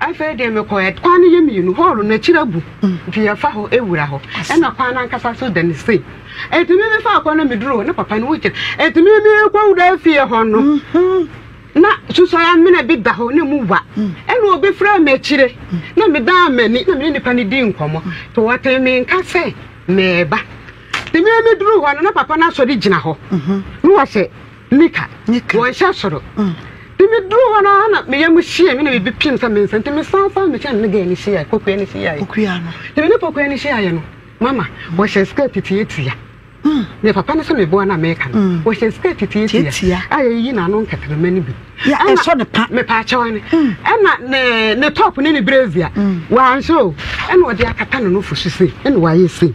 Afei deɛ mekɔɛ, kwan no yɛ mmienu, hɔɔlo no akyiri agu, nti yɛfa hɔ wura hɔ, ɛna kwan no ankasa so da ne sei. Enti me mefaa kwan no meduru hɔ, na papa no wogyina. Enti me mekɔwura fie hɔ no, mhm. na susɔe amena bi da hɔ na mu wa. Mm. Ɛna obi frɛ me akyire, na medaa m'ani, na mene nipa no di nkɔmmɔ. Nti wɔtee me nka sɛ mɛɛba. Nti me meduru hɔ no, na papa no asɔre gyina hɔ. Mhm. Na wɔhyɛ Mika, wɔnhyɛ soro. Nti me duru hɔ no na me yam hyee me na biribi piem sɛ me nsa nti me san san me kyɛn ne gɛɛ ne hyia kokoa ne hyia yɛ. Kokoa no. Nti me ne kokoa ne hyia yɛ no mama wɔhyɛ skirt titia tia. Mm. Ne papa no so me boa na me ka no. Wɔhyɛ skirt titia tia. A yɛ yi na no nkɛtɛrɛmɛ ne bi. Ya ɛsɔ ne pa. Me pa kyɛw ne. Ɛna ne ne top ne ne brazier. Wɔanhyɛ o. Ɛna ɔde akata no no fo so sei. Ɛna wɔayɛ sei.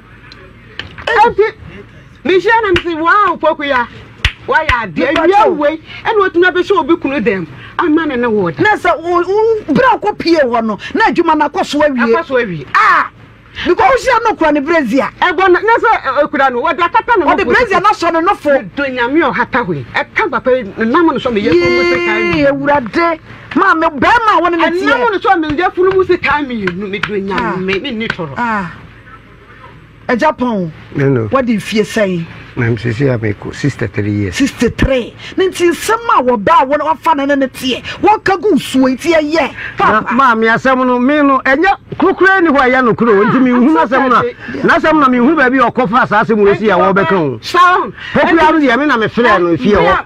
ɛnti mehyia no mese wow pokuya wayɛ adeɛ awia wei ɛna watumi abɛhyɛ obi kunu dɛm ama ne ne wɔ da na sɛ berɛ a ɔkɔ pie hɔ no na adwuma no akɔ so awie akɔ so awie ah because wohyia no kura ne brezia ɛbɔ na na sɛ ɛkura no wɔde akata ne ɔde brezia no asɔ ne nofo do nyame ɔhata hoi ɛka papa nam no sɔ meyɛ funu mu sɛ kaa mmienu awurade maa me bɛrima a wɔne ne teɛ nam no sɔ meyɛ funu mu sɛ kaa mmienu medo nyame menni tɔrɔ agya pɔn wadi mfie sɛn na sisi a mekɔ 63 years 63 ne nti nsɛm a wɔbaa wɔn wafa ne ne ne teɛ wɔka gu nsuo nti ɛyɛ papa maame asɛm no me no ɛnyɛ kurokura ni hɔ ɛyɛ no kuro nti me hu n'asɛm na n'asɛm na me hu baabi ɔkɔfa saa asɛm wɔ si a wɔbɛka o hokura no deɛ me na me frɛ no fie hɔ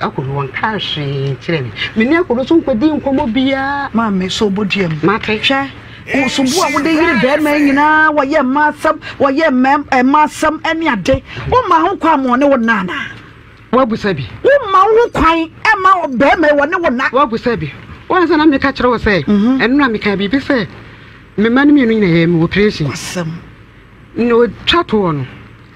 Akodo wɔnkaa hwee nkyerɛɛ me. Me ne Akodo nso nkɔdii nkɔmmɔ biara. Maame, so wobɔ dua mu? Mate. Hwɛ, nsumbu a wode yere bɛrima yi nyinaa, wɔyɛ mma asɛm, wɔyɛ mma asɛm ne ade. Womma ho kwan ma ɔne wo nna anaa? Woabusa bi? Womma wo ho kwan ma bɛrima yi wɔne wo nna? Woabusa bi? Woahu sɛ na meka kyerɛ wo sɛ, mhm. ɛno na meka biribi sɛ, me mma no mmienu nyinaa yɛ mewɔ operation. Asɛm. Na otwa toɔ no,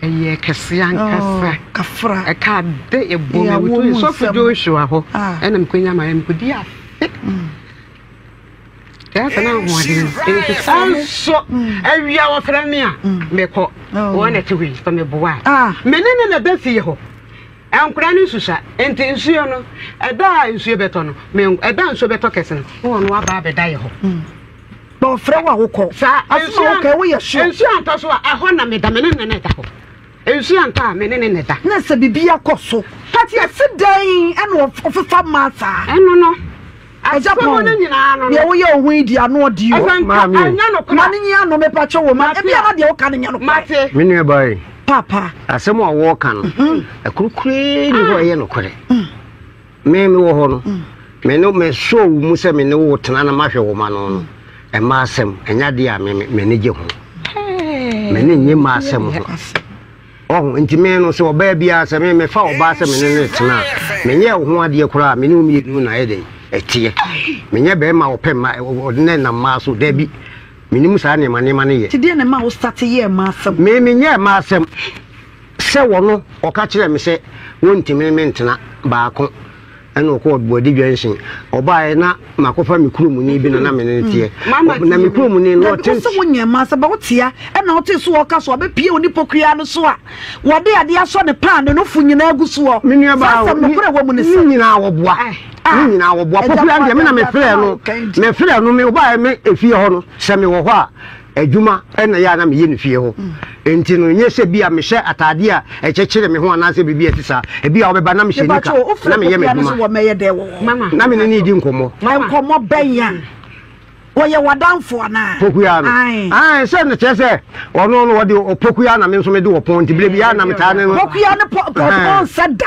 ɛyɛɛ kɛseɛ ankasa. Oh, kafra. Ɛka de ɛbɔ me wuto yɛ sɔfo Joshua hɔ. Ah. Ɛna mekɔnya ma yɛ mekɔdi afe. Mm. Ɛyɛ sɛ na ahoɔden nti saa nso mm. awia wɔfrɛ me a mm. mekɔ oh. wɔn na ɛte hɔ yi sɛ meboa a ah. me ne ne na ɛbɛ fie hɔ nkora no nsusa nti nsuo no ɛda a nsuo bɛtɔ no ɛda nsuo bɛtɔ kɛse no wɔn no aba abɛda yɛ hɔ na ɔfrɛ wo a wokɔ. Saa asoma wo kɛɛ woyɛ sure. Nsuo antɔ so a ɛhɔ na meda me ne ne na ɛda hɔ. Nsuo antɔ a me ne ne na ɛda. Na sɛ biribi akɔ so. Pati ɛse dɛn ɛna ɔfefa ma saa. Ɛno no asɛm no nyinaa no. Deɛ woyɛ wo ho yi di ano ɔdi yɔ. Ɛsɛ nka ɛnyɛ no kora. Ma ne nyi ano mepa kyɛ wɔ ma. Ebi ama deɛ woka no nyɛ no kora. Mate. Me nua ba yi. Papa. Asɛm a wɔka no. Ɛkoro kuree ni hɔ ɛyɛ no kora. Me mewɔ hɔ no, me ne mesoo wo mu sɛ me ne wo tena na mahwɛ wo ma no no, ɛma asɛm, ɛnyɛ adeɛ a me m'ani gye ho. M'ani nye ma asɛm ho. Ɔho, nti me no sɛ ɔbaa biara sɛ me mefa ɔbaa sɛ me ne no tena a, menyɛ wo ho adeɛ koraa me ne wo mmienu na ɛyɛ dɛn ɛteɛ. Menyɛ bɛrima a ɔpɛ mma ɔde na ɛnam mmaa so, daabi. Menim saa nneɛma nneɛma no yɛ. Nti deɛ na ɛma wo start yɛɛ mma asɛm? Me menyɛɛ mma asɛm. Sɛ wɔ no, ɔka kyerɛɛ me sɛ wɔntumi ne me ntena baako ɛna ɔkɔɔ Boadi Junction. Ɔbaeɛ na makɔfa me kuromuni bi na na me ne no teɛ. Ɔ- Na me kuromuni no ɔte sɛ wo nyɛ ma sɛ bɛ wotea ɛna ɔte so ɔka so ɔbɛ pie oni pokuya no so a wɔde adeɛ asɔ ne paa ne no fo nyinaa gu soɔ me nua saa baa asɛm no korɛ wɔ mu ne ne sɛ nyinaa wɔboa ne ah nyinaa wɔboa ɛgya pokuya no deɛ me na me frɛ no me frɛ no me ɔbaeɛ me efie hɔ no sɛ me wɔ hɔ a adwuma na ɛyɛ a na meyɛ no fie hɔ. Enti no, nyɛ sɛ bi a mehyɛ atade a ɛkyekyere me ho anaasɛ biribi a ɛte saa. Ebi a wɔbɛba na mehyɛ nika na meyɛ m'adwuma na me ne no redi nkɔmmɔ. Nkɔmmɔ bɛn a? Wɔyɛ w'adamfo anaa? Pokuya no. Ae. Sɛ no kyerɛ sɛ ɔno no wɔde ɔpokuya na me nso mede ɔpɔn nti berɛ bi a na metaa ne no. Pokuya no pɔn sɛ da.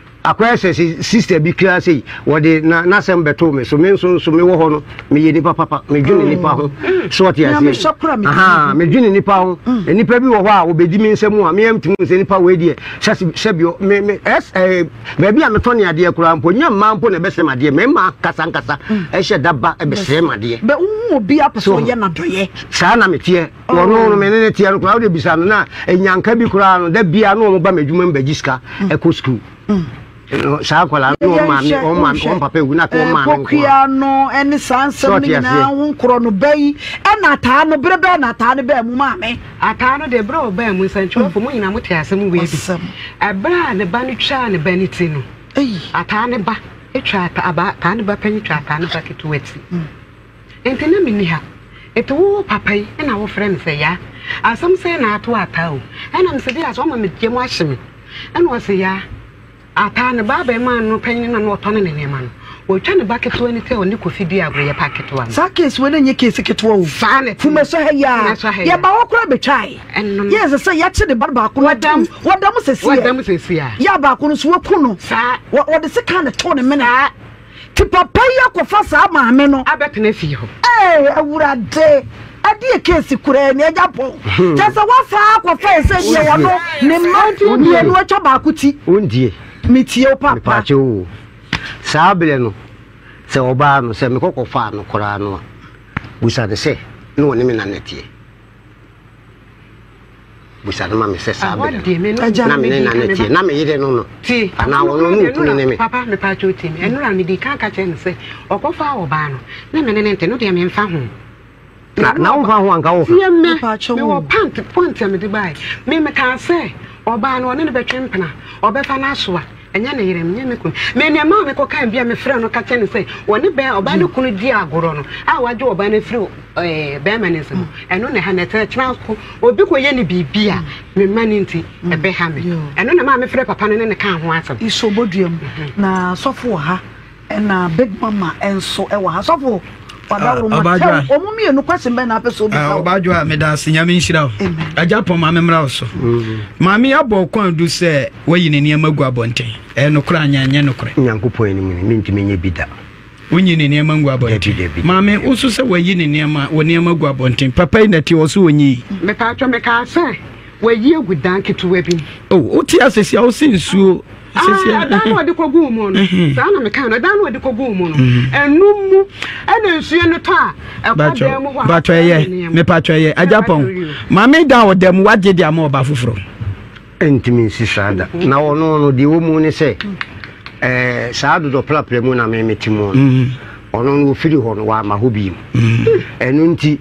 Akɔyɛ sɛ sista bi kraa sei, wɔde na n'asɛm bɛtoo me so, me nso nso mewɔ hɔ no, meyɛ nipa papa, medwene nipa ho, so ɔte aseɛ, ahaa, medwene nipa ho, nipa bi wɔ hɔ a ɔbɛdi me nsa mu a, me antumi hu sɛ nipa wei deɛ, sɛsi, sɛbi, ɔ, me, me, ɛs, ɛɛ, baabi a metɔ ne adeɛ koraa mpo, nyɛ mmaa mpo na ɛbɛsrɛ me adeɛ, mmarima ankasa ankasa ɛhyɛ da ba ɛbɛsrɛ me adeɛ. Bɛ wohu obi a pɛ sɛ ɔyɛ n'adɔyɛ. Saa na meteɛ. wɔn no me ne ne teɛ no koraa wode bisa no na ɛnyanka bi koraa no da biara na wɔn ba m'adwuma mu bɛgye sika mm. ɛkɔ sukuu mm. saa akwadaa no wɔn maame wɔn maame wɔn papa ewu na kɔ wɔn maame nko kokia no ɛne saa nsɛm no nyinaa ho nkorɔ no bɛyi ɛna ataa no bere bɛɛ na ataa no bɛɛ mu maame. ataa no de bere ɔbɛn mu nsɛntwerɛfo mm. mu nyinaa mo te asɛm wei bi ɛbere a ne ba no twaa ne ba ne ti no ataa ne ba atwa ataa ne ba panyin twa ataa ne ba ketewa ti. Enti na minni ha. Enti wo papa yi na wofrɛ me sɛ Yaa? Asɛm sɛn na ato Ataa o? Ɛnna mise bi a sɛ ɔma me gya mu ahye me. Ɛnna ɔse Yaa, Ataa ne ba abarimaa no panyin no na na ɔtɔne ne nneɛma no. Watwa ne ba ketewa no ti a ɔne Kofi dii agoru yɛ pa ketewa no. Saa case wei no nyɛ case ketewa o. Saa na ɛte. Kumasi ha yi ara, Kumasi ha yi ara. yɛn ba hɔ koraa betwae. Ɛno no. Yes, sɛ yɛakye ne ba baako no Wada mu. atom. Wada mu sɛsi Wada a. mu sɛsi a. Yaa baako no nso, wɔaku no. Saa. Wɔ, wɔde sekan na ɛtoo ne mene. Saa. Te papa yi akɔfa saa maame no. Abɛtena fie hɔ. Eeh awurade ɛdeɛ case koraa ni agya pɔw kyɛ sɛ wasan akɔfa ɛsɛ deɛ wɔno ne mma mmienu atwa baako ti. Wondie. Metie wo papa. Mepaakyɛ oo saa berɛ no sɛ ɔbaa no sɛ mekɔ kɔfaa no koraa no a busa no sɛ ne ɔne me nana teɛ. bisa no ma me sɛ saa bɛ no na me ne na ne tie na me yere no no anaa wɔn no ne okunu ne me. papa me pa atwa otie mi ɛno na mede kan ka kyerɛ no sɛ ɔkɔfa ɔbaa no ne me ne ne nte no deɛ memfa ho na na wo fa ho anka wo fa yɛ mɛ mewɔ pant pant a mede bae me mekaa sɛ ɔbaa no ɔne no bɛtwe mpena ɔbɛfa no asoa Ɛnyɛ ne yere, ɛnyɛ ne kunu. Me nea ɛmaa me kɔkae bi a mefrɛɛ no ka kyerɛɛ no sɛ ɔne bɛn ɔbaa no kunu di agorɔ no a wagye ɔbaa no afiri ɛɛ bɛrima no nsam. Ɛno na ɛha me. Ɛtena ɛtena nso obi kɔyɛ no biribi a me mma no nti ɛbɛha me. Ɛno na ɛmaa mefrɛɛ papa no ne no kaa ho asɛm. Iso Boduam, na sɔfo wɔ ha. Ɛna big mama nso ɛwɔ ha sɔfo wadaworo ah, ma tɛw wɔn mmienu kwɛsin bɛn na apɛ so bisa ah, o. ɔbadwo a meda ase nyame nhyira o agya pɔn maame mmra so mm-hmm. maame abɔ kwan du sɛ wayi ne nneɛma gu abɔnten ɛyɛ nokorɛ anyɛ anyɛ nokorɛ. nyankopɔn anim ni mentumi nyɛ bi da wonyi ne nneɛma ngu abɔnten maame woso sɛ wayi ne nneɛma wɔ nneɛma gu abɔnten papa yi nɛte ɔ so ɔnyi yi mepaatwa mekaa sɛ wayi agu dan ketewa bi o oh, wote asɛsi a wo se nsuo ɛdan na ɔde kɔguu mu no saa na meka no ɛdan na ɔde kɔguu mu no ɛnum mu ɛna nsuo no tɔ a ɛkɔ dan mu hɔ a patɔ ɛyɛ mepatɔ ɛyɛ agyapɔn maame da ɔda mu wagye de ama ɔba foforɔ ntumi nsi saa da na ɔno no deɛ wɔ mu ne sɛ ɛɛ saa dodɔ prapra mu na meme te mu mm-hmm. ɔno no ɔfiri hɔ no wama hɔ bi mu mm-hmm. ɛno nti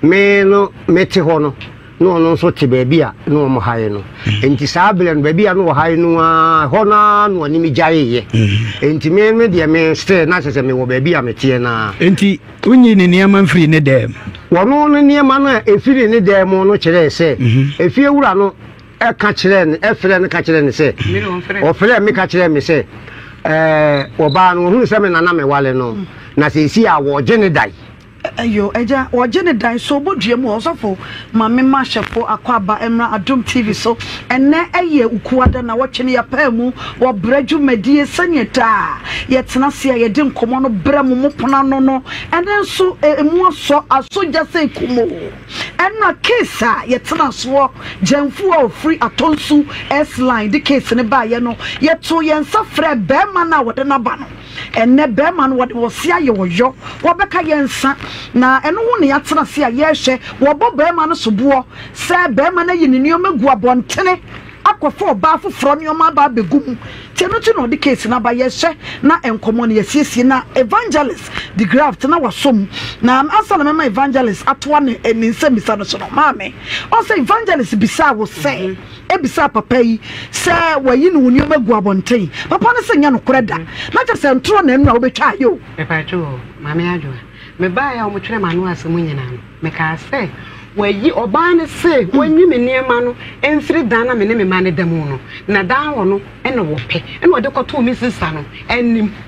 me no mete hɔ no na ɔno nso te baabi a na wɔn hae no nti saa berɛ no baabi a na wɔhae no a hɔ no ara na ɔne me gyaeeɛ mm. nti me me deɛ me still na kyɛ sɛ mewɔ baabi a meteɛ no ara nti wonyi ne nneɛma mfiri ne dɛm wɔno no nneɛma no a ɛfiri ne dɛm mu no kyerɛɛ sɛ mm-hmm. efie wura no ɛka kyerɛɛ no ɛfrɛ no ka kyerɛɛ no sɛ ɔfrɛ me ka kyerɛɛ me sɛ ɛɛ ɔbaa no ɔhunu sɛ me nana mewale no mm. na sɛ ɛsi a wɔgye ne dae Ɛyɔ agya wɔgye ne dan so bɔ dua mu ɔsɔfo ma me ma hyɛfo akɔ aba mmra adom TV so ɛnɛ ɛyɛ ukuada na wɔtwe no yɛpaa mu wɔ brɛ dwumadie sɛneɛ daa yɛtena se a yɛde nkɔmɔ no brɛ mo mo pono ano no ɛnɛ nso ɛmu asɔ aso gya sɛ kumo ɛna case a yɛtena soɔ gyɛnfo a ɔfiri atɔnsu S-line de case no baayɛ no yɛto yɛn nsa frɛ bɛɛma no a wɔde no aba no. Ɛnnɛ bɛɛma no wɔde wɔ se ayɛ ɔyɔ, wɔbɛka yɛ nsa, na ɛno ho na yɛatena ase a yɛrehwɛ, wɔbɔ bɛɛma no soboɔ sɛ bɛɛma no ayi ne nnoɔma agu abɔntene akɔfa ɔbaa foforɔ nnoɔma aba abɛgu mu, nti ɛno nti na ɔde case no aba, yɛrehwɛ na nkɔmmɔ no yɛasiesie na Evangelist de graft na wasɔ mu, na ansa na mɛma Evangelist atoa ne nsɛmmisa no so no, Maame, ɔsɛ Evangelist bisaa wo sɛ. bisaa papa yi sɛ wayi ne wo nneɛma agu abɔnten. Papa no se nyɛ nokorɛ da, na kyerɛ sɛ ntorɔ na nnura wobɛtwa ayɛ o. Mepatwo o, Maame Adwoa, mebaeɛ a wɔtwerɛ m'ano ase mu nyinaa no, mekaa sɛ wayi, ɔbaa no se wanyi me nneɛma no mfiri dan na me ne me mma no da mu no, na dan hɔ no na wɔpɛ na ɔde kɔtoo me sista no anim.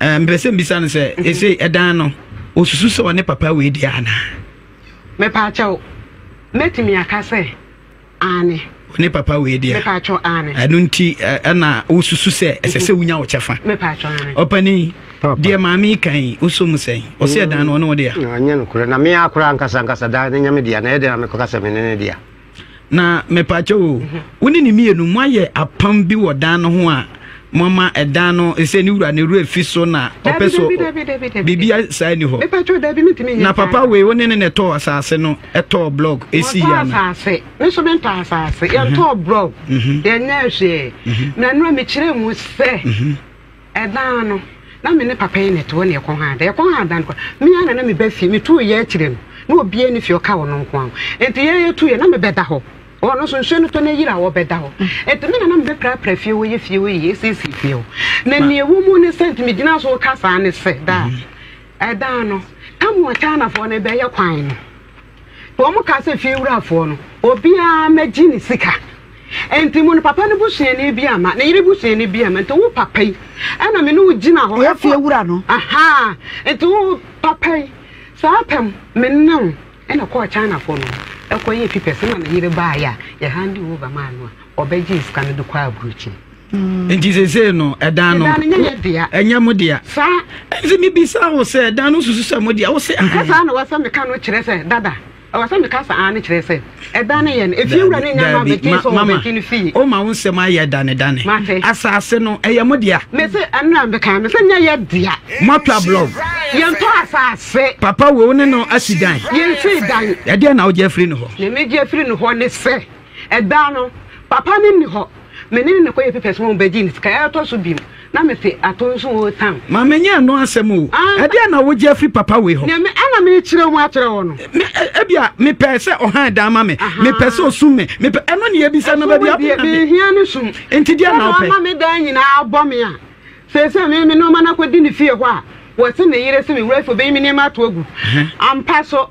Ɛɛ, mepɛ sɛ mbisa no sɛ, ese ɛdan no, osusu sɛ ɔne papa wei dea anaa? Mepaakyɛw, mɛtumi aka sɛ, aane. Ɔne papa wei dea. Mepaakyɛw, aane. Ɛno nti ɛna wosusu sɛ ɛsɛ sɛ wonya wo kyɛfa? Mepaakyɛw, aane. Ɔpanin, deɛ maame yi ka yi, wosɔ mu sɛn? Ɔse ɛdan no, ɔne wo dea? Ɛnyɛ nokorɛ, na me ara koraa ankasa ankasa dan no nyɛ me dea, na ɛyɛ dɛn na mekɔka sɛ me ne no dea? na mepaakyɛ o wo ne ne mmienu moayɛ apam bi wɔ dan no ho a mama ɛdan no ɛsɛ ne wura ne wura fi so na ɔpɛ so biribi saa ni hɔ na papa wei wo ne ne na ɛtɔɔ asase no ɛtɔɔ blɔg ɛsi yɛ na asase me so mentɔ asase yɛntɔɔ blɔg yɛnyɛ hwee na no a mekyerɛ mu sɛ Ɛdaa no, na me ne papa yi na ɛte hɔ na ɛkɔm ha ada. Ɛkɔm ha ada no koraa, me ara na na meba fie. Metuu yɛn akyire no, na obiara nni fie, ɔka ɔno nko ara ho. Enti yɛn yɛtu yɛn, na mebɛda hɔ. Ɔno nso, nsuo no tɔ na ayiri a, ɔbɛda hɔ. Enti me na na mebɛprapra fie hɔ, yɛ fie hɔ yie, asiesie fie hɔ. Na nea ɛwɔ mu ne sɛ, nti megyina so reka saa ne sɛ, daa, ɛdaa no, Tamuwa Chinafoɔ no bɛyɛ kwan no. Wɔkaa sɛ fie wurafoɔ no, obiara mmɛgye ne sika. Enti mo no, papa no busuani bi amma, ne yere busuani bi amma. Enti wo papa yi na me ne wo gyina hɔ. Ɔyɛ fie wura no. Ahaa, enti wo papa yi, saa apam me ne wo na kɔɔ Chinafoɔ no hɔ kɔyɛɛ fipɛs na ne yere baeɛ a, yɛhande over maa no a, ɔbɛgyee sika no de kɔɔ aburokyire. nti sesei no ɛdan no ɛnyɛ mo dea ɛnti mebisa wo sɛ ɛdan no susu sɛ mo dea wo se saa na wɔsɛ meka no kyerɛ sɛ dada ɛwɔ sɛ meka saa ne kyerɛ sɛ ɛdan no yɛ no ɛfie wura ne nyama bɛgye sɛ wɔbɛgye no fie woma wo nsɛm ayɛ danedane asase no ɛyɛ mo dea mese ɛnora meka me sɛ nyɛ yɛ dea moatwa blɔg yɛntɔ asase papa wei wo ne no asi dan yɛnsi dan ɛdeɛ na wogye afiri no hɔ ne megye afiri no hɔ ne sɛ Ɛda no, papa no nni hɔ. Me ne no na ɛkɔyɛɛ papers ma wɔbɛgyee no sika. Ɛtɔ so bio, na mete atoo nso oo Sam. Maame nyɛ ɛno asɛm oo. Ɛdeɛn na wogye afiri papa wei hɔ? Nea me ara na merekyerɛ mu akyerɛ wo no. Me, ebia mepɛ sɛ ɔhan dan ma me. Mepɛ sɛ ɔsum me. Mepɛ, ɛno na yɛbisa no baabi a. Ɛso wo deɛ, mehia ne sum. Enti deɛn na wopɛ? Sɛ na ɔma me dan nyinaa abɔ me a, seesei me, me nnoɔma no akɔdi ne fie hɔ a, wɔse ne yere se me wura fie ɔbɛyi me nneɛma ato agu. Ampa so,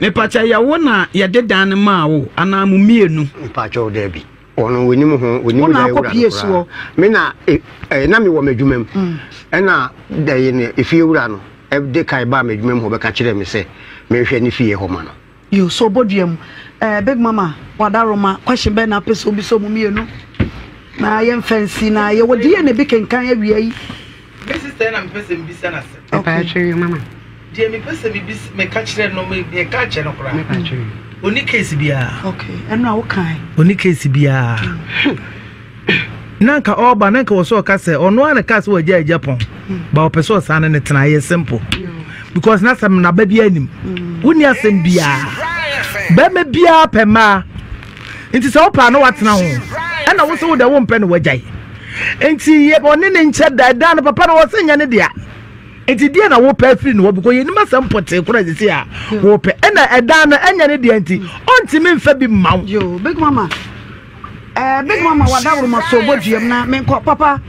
Mepakyɛ yɛ wo na yɛde dan no maa wo anaa mo mmienu? Mepakyɛw dabi. Ɔno onim ho, onim dan wura no koraa. Me na e, e, na mewɔ m'adwuma mu. Mm. Ɛna dɛn no efie wura no ɛde kae baa m'adwuma mu hɔ bɛka kyerɛɛ me sɛ menhwɛ ne fie hɔ ma no. Yo, so obodua mu. Eh, Big Mama, wada Roma, question bɛn na apɛ sɛ obi sɛ ɔmo mmienu? Na yɛmfa nsi na yɛwɔ deɛ na ebi kenkan awia yi. Me sister na mepɛ sɛ mebisa no asɛm. Mepatwee mama. Deɛ mepɛ sɛ mebis meka kyerɛ no meka akyɛ no koraa. Mepatwee. Ɔni case biara. Okay, ɛno a wokae. Ɔni case biara. na nka ɔba na nka wɔ sɛ ɔka sɛ ɔno a na ka sɛ wɔagya agya pɔn hmm. ba ɔpɛ sɛ ɔsan no ne tena ayɛ simple hmm. because na sɛ mnaba bi anim hmm. wonni asɛm biara bɛma biara pɛ mmaa nti sɛ wopɛ a na woatena ho ɛna wo sɛ wo dɛ wompɛ no wagyae nti yɛ ɔne ne nkyɛ da ɛdan no papa no wɔ sɛ nyɛ ne dea nti deɛ na wopɛ afiri no hɔ bikɔ yɛnim asɛm pɔtee kora sɛ sɛ a wopɛ ɛna ɛdan no ɛnyɛ ne deɛ nti ɔntimi mfa bi mma wo big mama eh, big mama wadaworoma so bɔ duam na menkɔ papa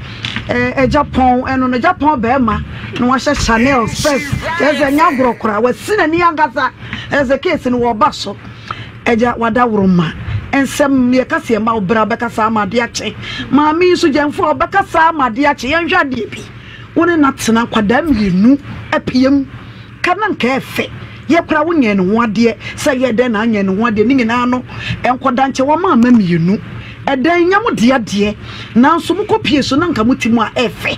ɛgya eh, pɔn ɛno no gya pɔn bɛrima na wahyɛ chanel spɛs ɛsɛ nya agorɔ kora wasi n'ani ankasa ɛsɛ keesi no wɔba so Agya, w'adaworoma nsɛm no, yɛ kasa ɛma wo bra, ɔbɛkasa ama adeɛ akye. Maame yi nso gyɛmfoɔ, ɔbɛkasa ama adeɛ akye. Yɛnhwɛ adeɛ bi, wo ne no atena nkwadaa mmienu apiam, ka na nka ɛfɛ. Yɛ koraa wonyɛɛ ne ho adeɛ, sɛ yɛ dɛn na anyɛ ne ho adeɛ, ne nyinaa no nkwadaa nkyɛ wama ama mmienu. Ɛdɛn, nyɛ mo dea deɛ, nanso mokɔ pie so na nka mo ti mu a ɛfɛ.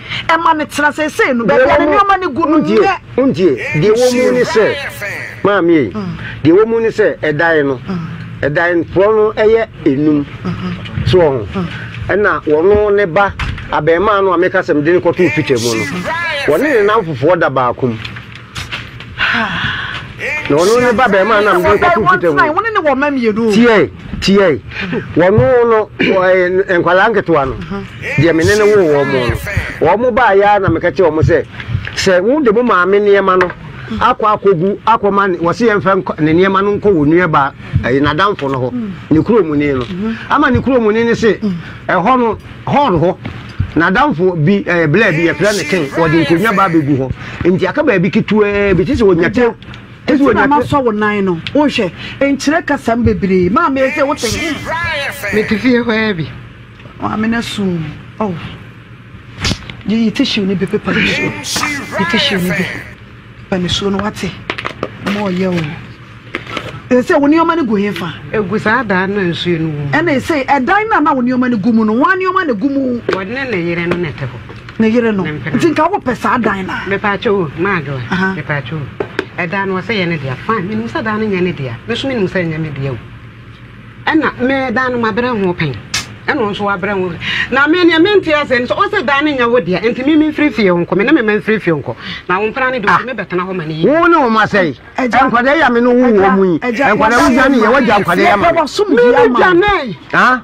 Ɛma no tena seesei no, baabi a ne nneɛma no gu no nnɛ. Wontie, deɛ ɛwɔ mu ne sɛ, maame ei, deɛ ɛwɔ mu ne sɛ ɛdan no, ɛdan porɔ no yɛ enum, so wɔ ho, ɛna wɔno ne ba, abarimaa no a meka sɛ mede no kɔtoo Peter mu no, wɔne ne nnamfofoɔ da baako mu. na ɔno ne ba bɛrima nam de kɔto fita mu wɔne ne wɔma mmienu tiɛe tiɛe wɔno no nkwadaa nketewa no deɛ mene ne woo wɔn mo no wɔn mo baa yɛ na meka kyerɛ wɔn sɛ sɛ wo de mo maame nneɛma no akɔ akɔgu akɔma ne wɔsi yɛn fɛ ne nneɛma no nkɔ wɔ nua ba ɛyɛ n'adamfo no hɔ ne kuromuni no ama ne kuromuni no se ɛhɔ no Hɔn hɔ. N'adamfo bi eh, blaa bi yɛfrɛ no Ken, wɔde nkonnwa ba abɛgu hɔ. Nti aka baabi ketewaa bi, te sɛ wɔnya te. Te sɛ wɔnya te. Masɔ wo nan no, wohwɛ, nkyerɛ kasam bebree. Maame yɛ sɛ wote me. Mete fie hɔ ara bi. Maame no asu. Oh. Yi tissue no bi, paper no bi. Yi tissue no bi. Ba nisuo no wate ma ɔyɛ o. Ɛsɛ wo nneɛma no gu he fa? Egu saa daa no nsuo no wɔ mu. Ɛna ɛsɛ ɛdan no a na wo nneɛma no gu mu no, wɔn nneɛma na gu mu. Wɔne ne yere no na ɛte hɔ. Ne yere no. Nti nka wopɛ saa dan no a. Mepaakyɛ o, maadwo a. Mepaakyɛ o. Ɛdan no wɔsɛ yɛ ne dea. Fine, menim sɛ dan no nyɛ ne dea. Me nso menim sɛ ɛnyɛ me dea o. Ɛna me dan no mabrɛ ho pɛn ɛna ɔnso wabrɛ ho na me neɛ mente aseɛ no sɛ ɔsɛ dan no nyɛ wo deɛ nti me memfiri fie nkɔ me ne me ma mfiri fie nkɔ na wo mpena no de ɔtumi bɛtena hɔ ma no yi wo ne wo ma sɛe nkwadaa yi a me ne wo wɔ mu yi nkwadaa wo dwane yɛ wagya nkwadaa yi ama me me ne dwane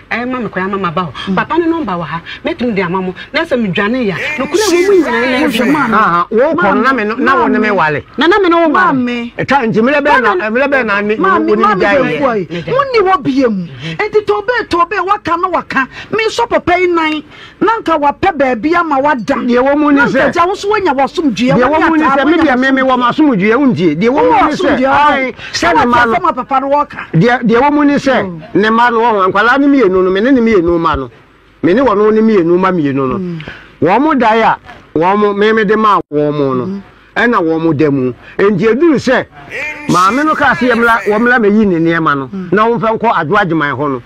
Ɛyɛ ma me koraa ama maba hɔ. Papa no nɔmba wɔ ha, mɛtumi de ama mo. Na sɛ medwanee a, nokorɛ mo mu nyinaa yɛ adwuma. Haa, wokɔ no, na me no, na wo ne me wale. Na na me ne wo wale. Maame. Ɛta nti, mmerɛ bɛn na, mmerɛ bɛn na ne, Maame, wo ne me maame gyaeɛ bɛɛfua yɛ? yi, mo nni hɔ biam. Enti tɔɔbɛɛ tɔɔbɛɛ, waka na waka, mesɔ papa yi nan. na anka wapɛ baabi ama wada. Deɛ ɛwɔ mu ne sɛ. Na anka gya wo nso wanya w'asomdwoeɛ. Deɛ ɛwɔ mu ne sɛ me deɛ me me wɔ m'asomdwoeɛ wontie. Deɛ ɛwɔ mu ne sɛ ae sɛ ne mma no. papa no wɔka. Deɛ deɛ ɛwɔ mu ne sɛ ne mma no wɔn nkwadaa no mmienu no me ne ne mmienu mma no me ne wɔn ne mmienu mma mmienu no wɔn dae a wɔn me me de maa wɔn no. Ɛna wɔn da mu. Enti eduru sɛ maame no kaa sɛ yɛmmra wɔmmra mɛyi ne nneɛma no na wɔmfa nkɔ Adwo Agyeman hɔ no,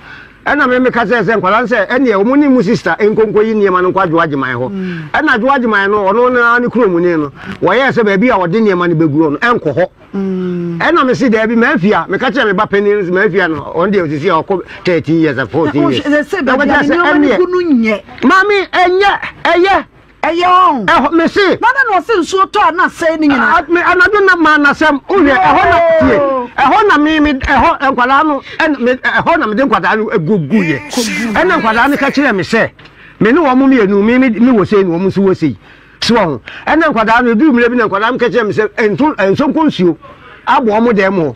ɛna me meka kyerɛɛ sɛ nkwadaa no sɛ ɛnneɛ wɔn ne mo sista nkɔ nkɔyi nneɛma no nkɔ Adwo Agyeman hɔ. Ɛna Adwo Agyeman no ɔno ne ne kuromuni no wɔyɛɛ sɛ baabi a wɔde nneɛma no bɛguo no ɛnkɔ hɔ. Ɛna me se daabi mafia meka kyerɛ me ba panin no sɛ mafia no ɔno deɛ ɔsisi a ɔkɔ 13 years 14 years. Ɛsɛ baabi a nneɛma no gu no nyɛ. Maame ɛnyɛ ɛyɛ. Ɛyɛ ɔn. Ɛhɔ, me se. Na dɛn na ɔse nsuo tɔ a na asɛe ne nyinaa? Ah, me, anadwo na maa n'asɛm. Wohwɛ, ɛhɔ na, tie, ɛhɔ na me, me, ɛhɔ, nkwadaa no, ɛna, me, ɛhɔ na mede nkwadaa no guguiɛ. Ɛna nkwadaa no ka kyerɛɛ me sɛ, me ne wɔn mmienu, me, me, me wɔ sei na wɔn nso wɔ sei. So ɔho. Ɛna nkwadaa no, ɛduru mmerɛ bi na nkwadaa no ka kyerɛɛ me sɛ, ɛnto, ɛnsɔ nkɔ nsuo abɔ wɔn dɛm o.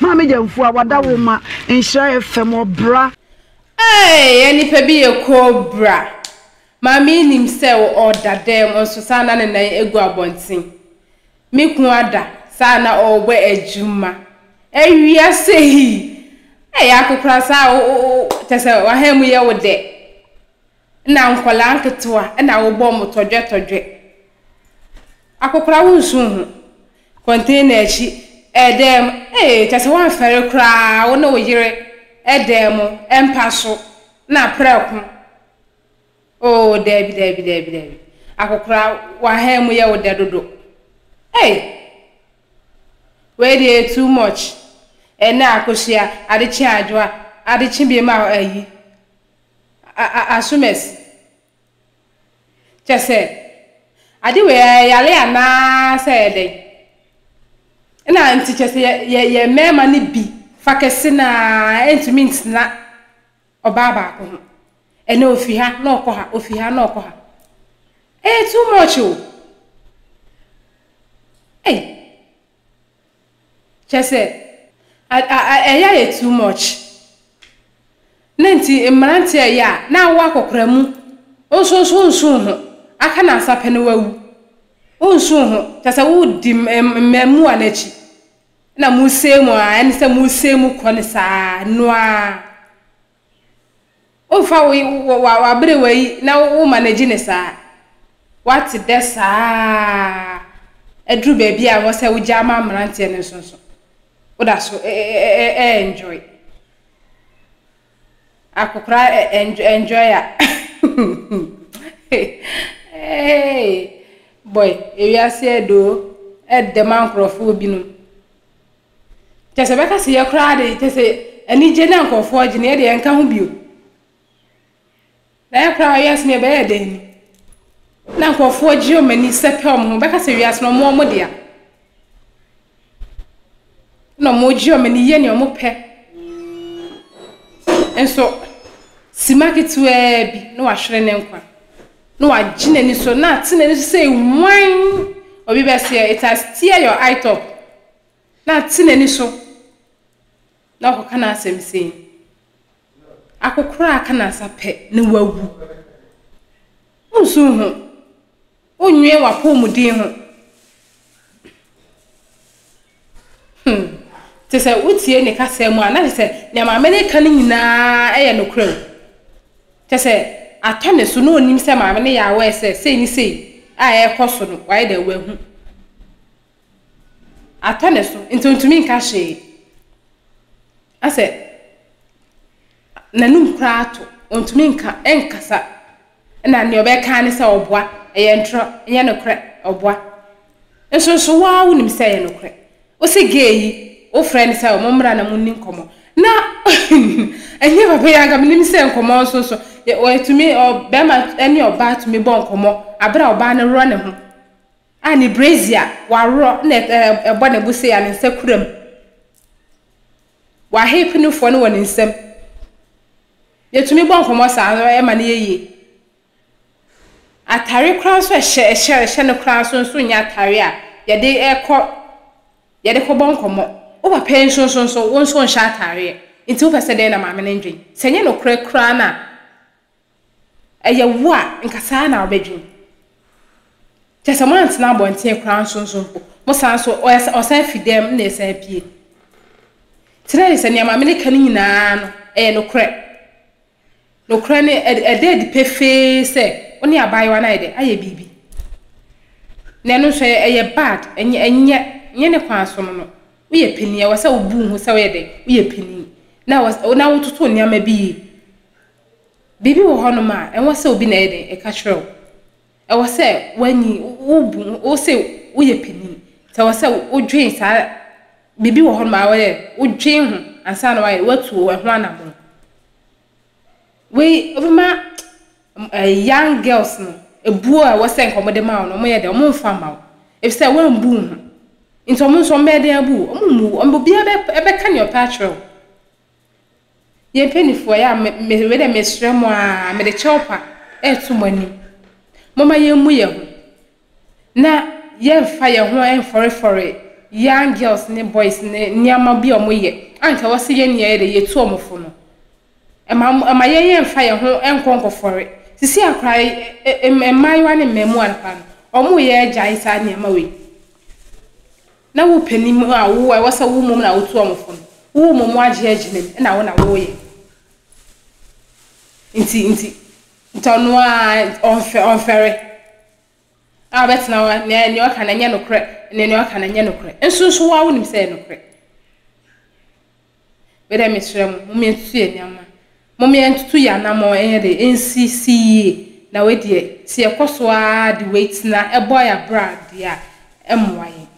Maame Gyamfo a wada wo ma nhyira FM ɔbra. Eeii yɛ nipa bi yɛ cobra. Maame yi nim sɛ ɔda dɛm nso saa na ne nan agu abɔnten. Me kunu ada saa na ɔrebɔ adwuma. Awia sɛ hii. Eeii akokora saa a wo wo wo kyɛ sɛ w'ahan mu yɛ wo dɛ. Nna nkwadaa nketewa na wɔbɔ wɔn tɔdwɛtɔdwɛ. Akokora wo nso ho. Container akyi, dan mu, ee kyerɛ sɛ woamfɛre koraa wo ne wo yere dan mu mpa so na prɛko. Oo daabi daabi daabi daabi. Akokora w'aha mu yɛ wo dɛ dodo. Ei! Wei deɛ ɛyɛ too much. Ɛnnɛ akosua, adekye adwoa, adekye biam a ayi. Asomasi. Kyerɛ sɛ, ade wei ara, yare anaa sɛ ɛyɛ dɛn? Ɛna nti kyerɛ sɛ yɛ, yɛ, yɛn mmarima no bi fa kɛse no ara ntumi ntena ɔbaa baako ho. Ɛnɛ ɔfi ha na ɔkɔ ha, ɔfi ha na ɔkɔ ha. Ɛyɛ too much o! Ei! Kyerɛ sɛ, ɛyɛ ayɛ too much. Ne nti, mmeranteɛ reyɛ a, na awo akɔkora mu. Wo nso nso wonsu wo ho. Aka nnansa pɛ na woawu. Wonsu wo ho. Kyerɛ sɛ, wodi mmaamua no akyi. Ɛna mosɛe mu ara, ɛne sɛ mosɛe mu kɔ no saa, ɛno ara. Womfa wo y wɔ wɔ w'aberewa yi na wo wo manage no saa. Woate dɛ saa ara aduru baabi a wɔ sɛ wogyaa ma mmeranteɛ no nso nso, woda so ɛ ɛ ɛ ɛ ɛ enjoy. Akokora ɛ ɛ enjoy enjoy a eeii boy ewiase aduru o, ɛɛdɛ ma nkorɔfoɔ binom. Kyɛ sɛ bɛka sɛ yɛ koraa de kyɛ sɛ anigye na nkurɔfoɔ gye no yɛ deɛ yɛnka ho bio. Na yɛ koraa wiase no yɛbɛyɛ dɛn ni? Na nkurɔfoɔ gye wɔn ani sɛpɛ wɔn ho bɛka sɛ wiase no wɔn wɔn dea. Na wɔgye wɔn ani yɛ nea wɔpɛ. Nso sima ketewaa bi na wahwere ne nkwa. Na wagye n'ani so na ate n'ani so sɛ hwan obi bɛseɛ it has tear your eye top. Na te n'ani so, na ɔkɔka n'asɛm sei, Akokoraa ka n'asa pɛ na wawu. Wonsuw ho, wonnwen w'apɔwmuden ho. Hmm, te sɛ wotie ne kasa mu a, na kyerɛ sɛ nea maame no reka no nyinaa yɛ nokorɛ o. Kyerɛ sɛ atɔ ne so na onim sɛ maame no yɛ aware sɛ sei ne sei a ɛrekɔ so no, wayɛ dɛ wahu. Atɔ ne so, nti ontumi nka hwee. Asɛ n'anum koraa ato, ontumi nka, ɛnkasa. Ɛna nea ɔbɛka ara ne sɛ ɔboa, ɛyɛ ntorɔ, ɛnyɛ nokorɛ, ɔboa. Nso nso wo ara wonim sɛ ɛyɛ nokorɛ. Wo se gay yi, wofrɛ no sɛ mommra na monni nkɔmmɔ. Na ɛnyɛ papa yi anka menim sɛ nkɔmmɔ nso nso, wɔatumi, ɔ, barima ne ɔbaa tumi bɔ nkɔmmɔ berɛ a ɔbaa no worɔ ne ho. a ne brazier a wɔaworɔ na ɛbɔ ne bo sei a ne nsa kura mu. Wahepe ne foɔ no wɔ ne nsam. Yɛtumi bɔ nkɔmmɔ saa no ɛma no yɛ yie. Atadeɛ koraa nso a ɛhyɛ ɛhyɛ ɛhyɛ no koraa nso nso nyɛ atadeɛ a yɛde kɔ yɛde kɔbɔ nkɔmmɔ. Wo papa yi nso nso nso wo nso wonhyɛ atadeɛ. Enti wopɛ sɛ dɛn na maame no nnwen? Sɛ ɛnyɛ nokorɛ koraa no a, Ɛyɛ wo a, nka saa na wobɛdwen. Kyerɛ sɛ moantena abɔnten koraa nso nso mpo, mosan nso, ɔyɛ ɔsan fi dɛm na ɛsan pue. Kyerɛ yɛ sɛ nea maame no ka no nyinaa no, ɛyɛ nokorɛ. Nokorɛ no, ɛda adi pefee sɛ wo ne abaayewa no ayɛ dɛ? Ayɛ biribi. Na ɛno nso, ɛyɛ bad, ɛnyɛ, ɛnyɛ, ɛnyɛ ne kwan so no no. Woyɛ panin, ɛwɔ sɛ wobu wo ho sɛ woyɛ dɛ? Woyɛ panin. Na ɛwɔ, na wototo nneɛma bi yie. Biribi wɔ hɔnom a, ɛwɔ sɛ obi na ɛyɛ dɛn? Ɛka kyerɛ wo. Ɛwɔ sɛ woanyin, wobu, wo se woyɛ panin. Nti ɛwɔ sɛ wodwen saa, biribi wɔ hɔnom a ɛwɔ dɛ wodwen ho ansa na woayɛ, woatu ɛho anamɔn. Wei, wobɛma ɛɛ young girls no, ɛbuo a ɛwɔ sɛ nka wɔde ma wo no, wɔyɛ dɛn? Wɔmfa mma wo. Efisɛ woambu wo ho. Nti wɔn nso wɔbɛyɛ dɛn abu wo? Wɔmmu wo. Wɔn, obiara bɛ, bɛka deɛ ɔpɛ akyerɛ wo. Yɛn mpanimfoɔ, yɛ a me me wei deɛ mesrɛ mo ara, mede kyɛwpa reto mo anim. Momma yɛmmu yɛn ho, na yɛmfa yɛn ho mfɔrefɔre young girls ne boys ne nneɛma bi a wɔyɛ a anka wɔse yɛn yɛ de yɛtu wɔn fo no. Mma mo mma yɛn yɛmfa yɛn ho nkɔ nkɔfɔre. Seesei ara koraa ɛ ɛ mmaayewa ne mmarimaa no koraa no, wɔreyɛ agyae saa nneɛma wei. Na wo pɛ nim a wo a ɛwɔ sɛ wo mmom na wotu wɔn fo no, wo mmom woagye agyina mu na wo na woreyɛ. Nti, nti, nti ɔno ara ɔnfɛ, ɔnfɛre. A ɔbɛtena hɔ, nea, nea ɔka no nyɛ nokorɛ, nea, nea ɔka no nyɛ nokorɛ. Nso, nso wo ara wonim sɛ ɛyɛ nokorɛ. Wei deɛ mesrɛ mo, momma yɛntutu yɛn nneɛma. Momma yɛntutu yɛn anammɔn nyɛ dɛ, ɛnsisi yie. Na wei deɛ, sɛ yɛkɔ so ara de wei tena bɔ yɛn abrɛ a deɛ a, ɛremmoa yɛn.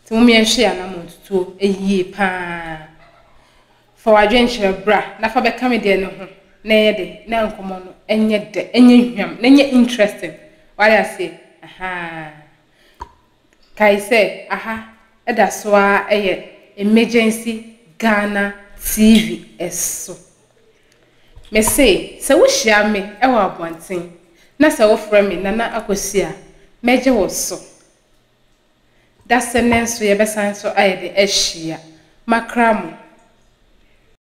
Nti momma yɛnhwɛ yɛn anammɔn ntutuo yie pa ara. Fa w'adwenkyerɛ bra na fa bɛka me deɛ no ho na ɛnyɛ dɛ, na nkɔmmɔ no nyɛ dɛ, ɛnyɛ hwam, na ɛnyɛ interesting. Wate aseɛ? Ahaa. Kae sɛ aha da so ara yɛ Emergency Ghana TV so. Mese sɛ wohyia me wɔ abɔnten na sɛ wofrɛ me Nana Akosua a, mɛgye wo so. Dasene nso yɛbɛsan so ayɛ dɛn ahyia. Makra mo.